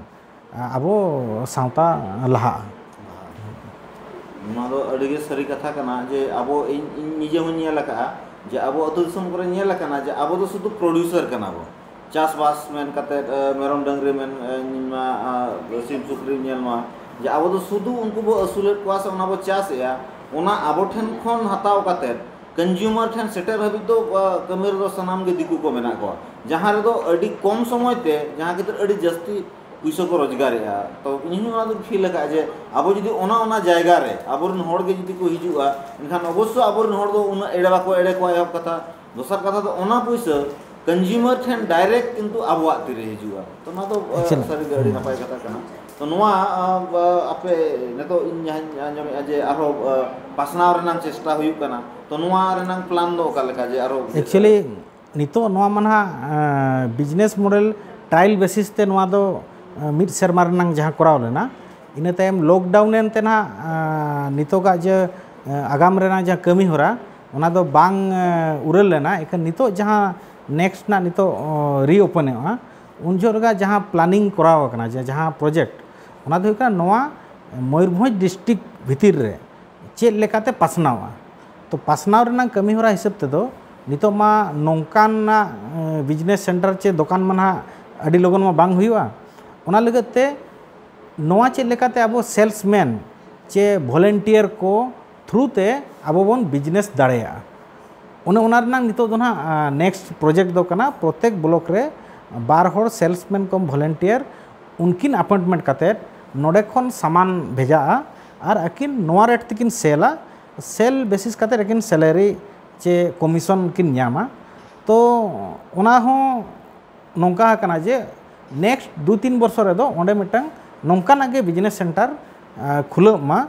ᱟᱵᱚ ᱥᱟᱶᱛᱟ ᱞᱟᱦᱟᱜᱼᱟ ᱱᱚᱣᱟ ᱫᱚ ᱟᱹᱰᱤ ᱜᱮ ᱥᱟᱹᱨᱤ ᱠᱟᱛᱷᱟ ᱠᱟᱱᱟ ᱡᱮ ᱟᱵᱚ ᱤᱧ ᱤᱧ ᱱᱤᱡᱮ ᱦᱚᱸᱧ ᱧᱮᱞ ᱟᱠᱟᱫᱼᱟ ᱡᱮ ᱟᱵᱚ ᱟᱹᱛᱩ ᱫᱤᱥᱚᱢ ᱠᱚᱨᱮ ᱧᱮᱞ ᱟᱠᱟᱱᱟ ᱡᱮ ᱟᱵᱚ ᱫᱚ ᱥᱩᱫᱷᱩ ᱯᱨᱚᱰᱭᱩᱥᱟᱨ ᱠᱟᱱᱟ ᱵᱚᱱ ᱪᱟᱥᱵᱟᱥ ᱢᱮᱱ ᱠᱟᱛᱮ ᱢᱮᱨᱚᱢ ᱰᱟᱹᱝᱨᱤ ᱢᱮᱱ ᱥᱤᱢ ᱥᱩᱠᱨᱤ ᱧᱮᱞ ᱢᱟ ᱡᱮ ᱟᱵᱚ ᱫᱚ ᱥᱩᱫᱷᱩ ᱩᱱᱠᱩ ᱵᱚ ᱟᱹᱥᱩᱞᱮᱫ ᱠᱚᱣᱟ ᱥᱮ ᱚᱱᱟ ᱵᱚ ᱪᱟᱥᱮᱫᱼᱟ ᱚᱱᱟ ᱟᱵᱚ ᱴᱷᱮᱱ ᱠᱷᱚᱱ ᱦᱟᱛᱟᱣ ᱠᱟᱛᱮ ᱠᱚᱱᱡᱩᱢᱟᱨ ᱴᱷᱮᱱ ᱥᱮᱴᱮᱨ ᱦᱟᱹᱵᱤᱡ ᱫᱚ ᱠᱟᱹᱢᱤ ᱨᱮᱫᱚ ᱥᱟᱱᱟᱢ ᱜᱮ ᱫᱤᱠᱩ ᱠᱚ ᱢᱮᱱᱟᱜ ᱠᱚᱣᱟ ᱡᱟᱦᱟᱸ ᱨᱮᱫᱚ ᱟᱹᱰᱤ ᱠᱚᱢ ᱥᱚᱢᱚᱭ ᱛᱮ ᱡᱟᱦᱟᱸ ᱠᱷᱟᱹᱛᱤᱨ ᱟᱹᱰᱤ ᱡᱟᱹᱥᱛᱤ ᱯᱩᱭᱥᱟᱹ ᱠᱚ ᱨᱳᱡᱽᱜᱟᱨᱮᱜᱼᱟ ᱛᱚ ᱤᱧ ᱦᱚᱸ ᱚᱱᱟ ᱫᱚᱧ ᱯᱷᱤᱞ ᱟᱠᱟᱫᱼᱟ ᱡᱮ ᱟᱵᱚ ᱡᱩᱫᱤ ᱚᱱᱟ ᱚᱱᱟ ᱡᱟᱭᱜᱟ ᱨᱮ ᱟᱵᱚᱨᱮᱱ ᱦᱚᱲ ᱜᱮ ᱡᱩᱫᱤ ᱠᱚ ᱦᱤᱡᱩᱜᱼᱟ ᱮᱱᱠᱷᱟᱱ ᱚᱵᱚᱥᱥᱳᱭ ᱟᱵᱚᱨᱮᱱ ᱦᱚᱲ ᱫᱚ ᱩᱱᱟᱹᱜ ᱮᱲᱮ ᱵᱟᱠᱚ ᱮᱲᱮ ᱠᱚᱣᱟ ᱮᱦᱚᱵ ᱠᱟᱛᱷᱟ ᱫᱚᱥᱟᱨ ᱠᱟᱛᱷᱟ ᱫᱚ ᱚᱱᱟ ᱯᱩᱭᱥᱟᱹ ᱠᱚᱱᱡᱩᱢᱟᱨ ᱴᱷᱮᱱ ᱰᱟᱭᱨᱮᱠᱴ ᱠᱤᱱᱛᱩ ᱟᱵᱚᱣᱟᱜ ᱛᱤᱨᱮ ᱦᱤᱡᱩᱜᱼᱟ ᱛᱚ ᱱᱚᱣᱟ ᱫᱚ ᱥᱟᱹᱨᱤᱜᱮ ᱟᱹᱰᱤ ᱱᱟᱯᱟᱭ ᱠᱟᱛᱷᱟ ᱠᱟᱱᱟ ᱛᱚ ᱱᱚᱣᱟ ᱟᱯᱮ ᱱᱤᱛᱚᱜ ᱤᱧ ᱡᱟᱦᱟᱸᱧ ᱟᱸᱡᱚᱢᱮᱫᱼᱟ ᱡᱮ ᱟᱨᱦᱚᱸ ᱯᱟᱥᱱᱟᱣ ᱨᱮᱱᱟᱜ ᱪᱮᱥᱴᱟ ᱦᱩᱭᱩᱜ ᱠᱟᱱᱟ ᱛᱚ ᱱᱚᱣᱟ ᱨᱮᱱᱟᱜ ᱯᱞᱟᱱ ᱫᱚ ᱚᱠᱟ ᱞᱮᱠᱟ ᱡᱮ ᱟᱨᱦᱚᱸ ᱮᱠᱪᱩᱭᱮᱞᱤ ᱱᱤᱛᱚᱜ ᱱᱚᱣᱟ ᱢᱟ ᱱᱟᱦᱟᱜ ᱵᱤᱡᱽᱱᱮᱥ ᱢᱚᱰᱮᱞ ᱴᱨᱟᱭᱮᱞ ᱵᱮᱥᱤᱥ ᱛᱮ ᱱᱚᱣᱟ ᱫᱚ ᱢᱤᱫ ᱥᱮᱨᱢᱟ ᱨᱮᱱᱟᱜ ᱡᱟᱦᱟᱸ ᱠᱚᱨᱟᱣ ᱞᱮᱱᱟ ᱤᱱᱟᱹ ᱛᱟᱭᱚᱢ ᱞᱚᱠᱰᱟᱣᱩᱱ ᱮᱱ ᱛᱮ ᱱᱟᱦᱟᱜ ᱱᱤᱛᱚᱜᱟᱜ ᱡᱮ ᱟᱜᱟᱢ ᱨᱮᱱᱟᱜ ᱡᱟᱦᱟᱸ ᱠᱟᱹᱢᱤ ᱦᱚᱨᱟ ᱚᱱᱟ ᱫᱚ ᱵᱟᱝ ᱩᱨᱟᱹᱞ ᱞᱮᱱᱟ ᱮᱠᱷᱟᱱ ᱱᱤᱛᱚᱜ ᱡᱟᱦᱟᱸ ᱱᱮᱠᱥᱴ ᱨᱮᱱᱟᱜ ᱱᱤᱛᱚᱜ ᱨᱤᱳᱯᱮᱱᱚᱜᱼᱟ ᱩᱱ ᱡᱚᱦᱚᱜ ᱨᱮᱜᱮ ᱡᱟᱦᱟᱸ ᱯᱞᱟᱱᱤᱝ ᱠᱚᱨᱟᱣ ᱟᱠᱟᱱᱟ ᱡᱮ ᱡᱟᱦᱟᱸ ᱯᱨᱚᱡᱮᱠᱴ ᱚᱱᱟ ᱫᱚ ᱦᱩᱭᱩᱜ ᱠᱟᱱᱟ ᱱᱚᱣᱟ ᱢᱚᱭᱩᱨᱵᱷᱚᱸᱡᱽ ᱰᱤᱥᱴᱤᱠ ᱵᱷᱤᱛᱤᱨ ᱨᱮ ᱪᱮᱫ ᱞᱮᱠᱟᱛᱮ ᱯᱟᱥᱱᱟᱣᱟ ᱛᱚ ᱯᱟᱥᱱᱟᱣ ᱨᱮᱱᱟᱜ ᱠᱟᱹᱢᱤ ᱦᱚᱨᱟ ᱦᱤᱥᱟᱹᱵ ᱛᱮᱫᱚ ᱱᱤᱛᱚᱜ ᱢᱟ ᱱᱚᱝᱠᱟᱱᱟᱜ ᱵᱤᱡᱽᱱᱮᱥ ᱥᱮᱱᱴᱟᱨ ᱪᱮ ᱫᱚᱠᱟᱱ ᱢᱟ ᱱᱟᱦᱟᱜ ᱟᱹᱰᱤ ᱞᱚᱜᱚᱱ ᱢᱟ ᱵᱟᱝ ᱦᱩᱭᱩᱜᱼᱟ ᱚᱱᱟ ᱞᱟᱹᱜᱤᱫ ᱛᱮ ᱱᱚᱣᱟ ᱪᱮᱫ ᱞᱮᱠᱟᱛᱮ ᱟᱵᱚ ᱥᱮᱞᱥ ᱢᱮᱱ ᱪᱮ ᱵᱷᱚᱞᱮᱱᱴᱤᱭᱟᱨ ᱠᱚ ᱛᱷᱨᱩ ᱛᱮ ᱟᱵᱚ ᱵᱚᱱ ᱵᱤᱡᱽᱱᱮᱥ ᱫᱟᱲᱮᱭᱟᱜᱼᱟ ᱚᱱᱮ ᱚᱱᱟ ᱨᱮᱱᱟᱜ ᱱᱤᱛᱚᱜ ᱫᱚ ᱱᱟᱦᱟᱜ ᱱᱮᱠᱥᱴ ᱯᱨᱚᱡᱮᱠᱴ ᱫᱚ ᱠᱟᱱᱟ ᱯᱨᱚᱛᱮᱠ ᱵᱞᱚᱠ ᱨᱮ ᱵᱟᱨ ᱦᱚᱲ ᱥᱮᱞᱥᱢᱮᱱ ᱠᱚᱢ ᱵᱷᱚᱞᱮᱱᱴᱤᱭᱟᱨ ᱩᱱᱠᱤᱱ ᱟᱯᱚᱭᱮᱱᱴᱢᱮᱱᱴ ᱠᱟᱛᱮᱫ ᱱᱚᱰᱮ ᱠᱷᱚᱱ ᱥᱟᱢᱟᱱ ᱵᱷᱮᱡᱟᱜᱼᱟ ᱟᱨ ᱟᱹᱠᱤᱱ ᱱᱚᱣᱟ ᱨᱮᱴ ᱛᱮᱠᱤᱱ ᱥᱮᱞᱟ ᱥᱮᱞ ᱵᱮᱥᱤᱥ ᱠᱟᱛᱮᱫ ᱟᱹᱠᱤᱱ ᱥᱮᱞᱟᱨᱤ ᱪᱮ ᱠᱚᱢᱤᱥᱚᱱ ᱠᱤᱱ ᱧᱟᱢᱟ ᱛᱚ ᱚᱱᱟ ᱦᱚᱸ ᱱᱚᱝᱠᱟ ᱟᱠᱟᱱᱟ ᱡᱮ ᱱᱮᱠᱥᱴ ᱫᱩ ᱛᱤᱱ ᱵᱚᱨᱥᱚ ᱨᱮᱫᱚ ᱚᱸᱰᱮ ᱢᱤᱫᱴᱟᱝ ᱱᱚᱝᱠᱟᱱᱟᱜ ᱜᱮ ᱵᱤᱡᱽᱱᱮᱥ ᱥᱮᱱᱴᱟᱨ ᱠᱷᱩᱞᱟᱹᱜ ᱢᱟ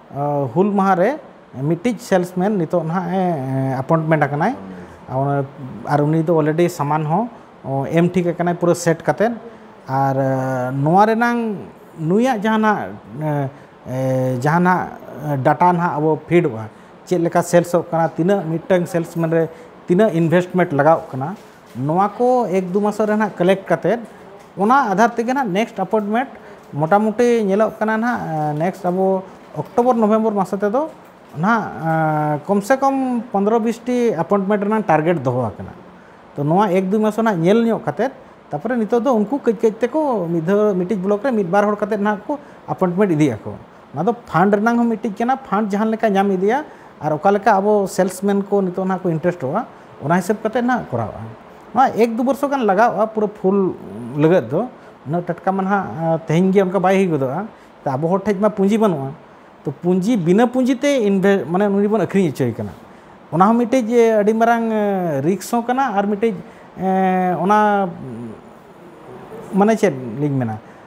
ᱦᱩᱞ ᱢᱟᱦᱟ ᱨᱮ ᱢᱤᱫᱴᱤᱡ ᱥᱮᱞᱥ ᱢᱮᱱ ᱱᱤᱛᱚᱜ ᱱᱟᱦᱟᱜ ᱮ ᱟᱯᱚᱭᱮᱱᱴᱢᱮᱱᱴ ᱟᱠᱟᱱᱟᱭ ᱟᱨ ᱩᱱᱤ ᱫᱚ ᱚᱞᱨᱮᱰᱤ ᱥᱟᱢᱟᱱ ᱦᱚᱸ ᱮᱢ ᱴᱷᱤᱠ ᱟᱠᱟᱱᱟᱭ ᱯᱩᱨᱟᱹ ᱥᱮᱴ ᱠᱟᱛᱮᱫ ᱟᱨ ᱱᱚᱣᱟ ᱨᱮᱱᱟᱜ ᱱᱩᱭᱟᱜ ᱡᱟᱦᱟᱱᱟᱜ ᱡᱟᱦᱟᱱᱟᱜ ᱰᱟᱴᱟ ᱱᱟᱦᱟᱜ ᱟᱵᱚ ᱯᱷᱤᱰᱚᱜᱼᱟ ᱪᱮᱫ ᱞᱮᱠᱟ ᱥᱮᱞᱥᱚᱜ ᱠᱟᱱᱟ ᱛᱤᱱᱟᱹᱜ ᱢᱤᱫᱴᱟᱝ ᱥᱮᱞᱥ ᱢᱮᱱ ᱨᱮ ᱛᱤᱱᱟᱹᱜ ᱤᱱᱵᱷᱮᱥᱴᱢᱮᱱᱴ ᱞᱟᱜᱟᱣᱚᱜ ᱠᱟᱱᱟ ᱱᱚᱣᱟ ᱠᱚ ᱮᱠ ᱫᱩ ᱢᱟᱥᱚ ᱨᱮ ᱱᱟᱦᱟᱜ ᱠᱟᱞᱮᱠᱴ ᱠᱟᱛᱮ ᱚᱱᱟ ᱟᱫᱷᱟᱨ ᱛᱮᱜᱮ ᱱᱟᱦᱟᱜ ᱱᱮᱠᱥᱴ ᱟᱯᱚᱭᱮᱱᱴᱢᱮᱱᱴ ᱢᱚᱴᱟᱢᱩᱴᱤ ᱧᱮᱞᱚᱜ ᱠᱟᱱᱟ ᱱᱟᱦᱟᱜ ᱱᱮᱠᱥᱴ ᱟᱵᱚ ᱚᱠᱴᱳᱵᱚᱨ ᱱᱚᱵᱷᱮᱢᱵᱚᱨ ᱢᱟᱥᱚ ᱛᱮᱫᱚ ᱱᱟᱦᱟᱜ ᱠᱚᱢ ᱥᱮ ᱠᱚᱢ ᱯᱚᱱᱫᱨᱚ ᱵᱤᱥ ᱴᱤ ᱟᱯᱚᱭᱮᱱᱴᱢᱮᱱᱴ ᱨᱮᱱᱟᱜ ᱴᱟᱨᱜᱮᱴ ᱫᱚᱦᱚ ᱟᱠᱟᱱᱟ ᱛᱚ ᱱᱚᱣᱟ ᱮᱠ ᱫᱩ ᱢᱟᱥᱚ ᱱᱟᱦᱟᱜ ᱧᱮᱞ ᱧᱚᱜ ᱠᱟᱛᱮ ᱛᱟᱨᱯᱚᱨᱮ ᱱᱤᱛᱚᱜ ᱫᱚ ᱩᱱᱠᱩ ᱠᱟᱹᱡ ᱠᱟᱹᱡ ᱛᱮᱠᱚ ᱢᱤᱫ ᱫᱷᱟᱣ ᱢᱤᱫᱴᱤᱡ ᱵᱞᱚᱠ ᱨᱮ ᱢᱤᱫ ᱵᱟᱨ ᱦᱚᱲ ᱠᱟᱛᱮ ᱱᱟᱦᱟᱜ ᱠᱚ ᱟᱯᱚᱭᱮᱱᱴᱢᱮᱱᱴ ᱤᱫᱤᱜ ᱟᱠᱚ ᱱᱚᱣᱟ ᱫᱚ ᱯᱷᱟᱱᱰ ᱨᱮᱱᱟᱝ ᱦᱚᱸ ᱢᱤᱫᱴᱤᱡ ᱠᱟᱱᱟ ᱯᱷᱟᱱᱰ ᱡᱟᱦᱟᱸ ᱞᱮᱠᱟ ᱧᱟᱢ ᱤᱫᱤᱭᱟ ᱟᱨ ᱚᱠᱟ ᱞᱮᱠᱟ ᱟᱵᱚ ᱥᱮᱞᱥᱢᱮᱱ ᱠᱚ ᱱᱤᱛᱚᱜ ᱱᱟᱦᱟᱜ ᱠᱚ ᱤᱱᱴᱟᱨᱮᱥᱴᱚᱜᱼᱟ ᱚᱱᱟ ᱦᱤᱥᱟᱹᱵ ᱠᱟᱛᱮ ᱱᱟᱦᱟᱜ ᱠᱚᱨᱟᱣᱜᱼᱟ ᱱᱚᱣᱟ ᱮᱠ ᱫᱩ ᱵᱚᱨᱥᱚ ᱜᱟᱱ ᱞᱟᱜᱟᱜᱼᱟ ᱯᱩᱨᱟᱹ ᱯᱷᱩᱞ ᱞᱟᱹᱜᱤᱫ ᱫᱚ ᱩᱱᱟᱹᱜ ᱴᱟᱴᱠᱟ ᱢᱟ ᱱᱟᱦᱟᱜ ᱛᱮᱦᱮᱧ ᱜᱮ ᱚᱱᱠᱟ ᱵᱟᱭ ᱦᱩᱭ ᱜᱚᱫᱚᱜᱼᱟ ᱛᱚ ᱟᱵᱚ ᱦᱚᱲ ᱴᱷᱮᱱ ᱢᱟ ᱯᱩᱸᱡᱤ ᱵᱟᱹᱱᱩᱜᱼᱟ ᱛᱚ ᱯᱩᱸᱡᱤ ᱵᱤᱱᱟᱹ ᱯᱩᱸᱡᱤ ᱛᱮ ᱤᱱᱵᱷᱮ ᱢᱟᱱᱮ ᱩᱱᱤ ᱵᱚᱱ ᱟᱹᱠᱷᱨᱤᱧ ᱦᱚᱪᱚᱭᱮ ᱠᱟᱱᱟ ᱚᱱᱟ ᱦᱚᱸ ᱢᱤᱫᱴᱤᱡ ᱟᱹᱰᱤ ᱢᱟᱨᱟᱝ ᱨᱤᱠᱥ ᱦᱚᱸ ᱠᱟᱱᱟ ᱟᱨ ᱢᱤᱫᱴᱤᱡ ᱚᱱᱟ ᱢᱟᱱᱮ ᱪᱮᱫ ᱞᱤᱧ ᱢᱮᱱᱟ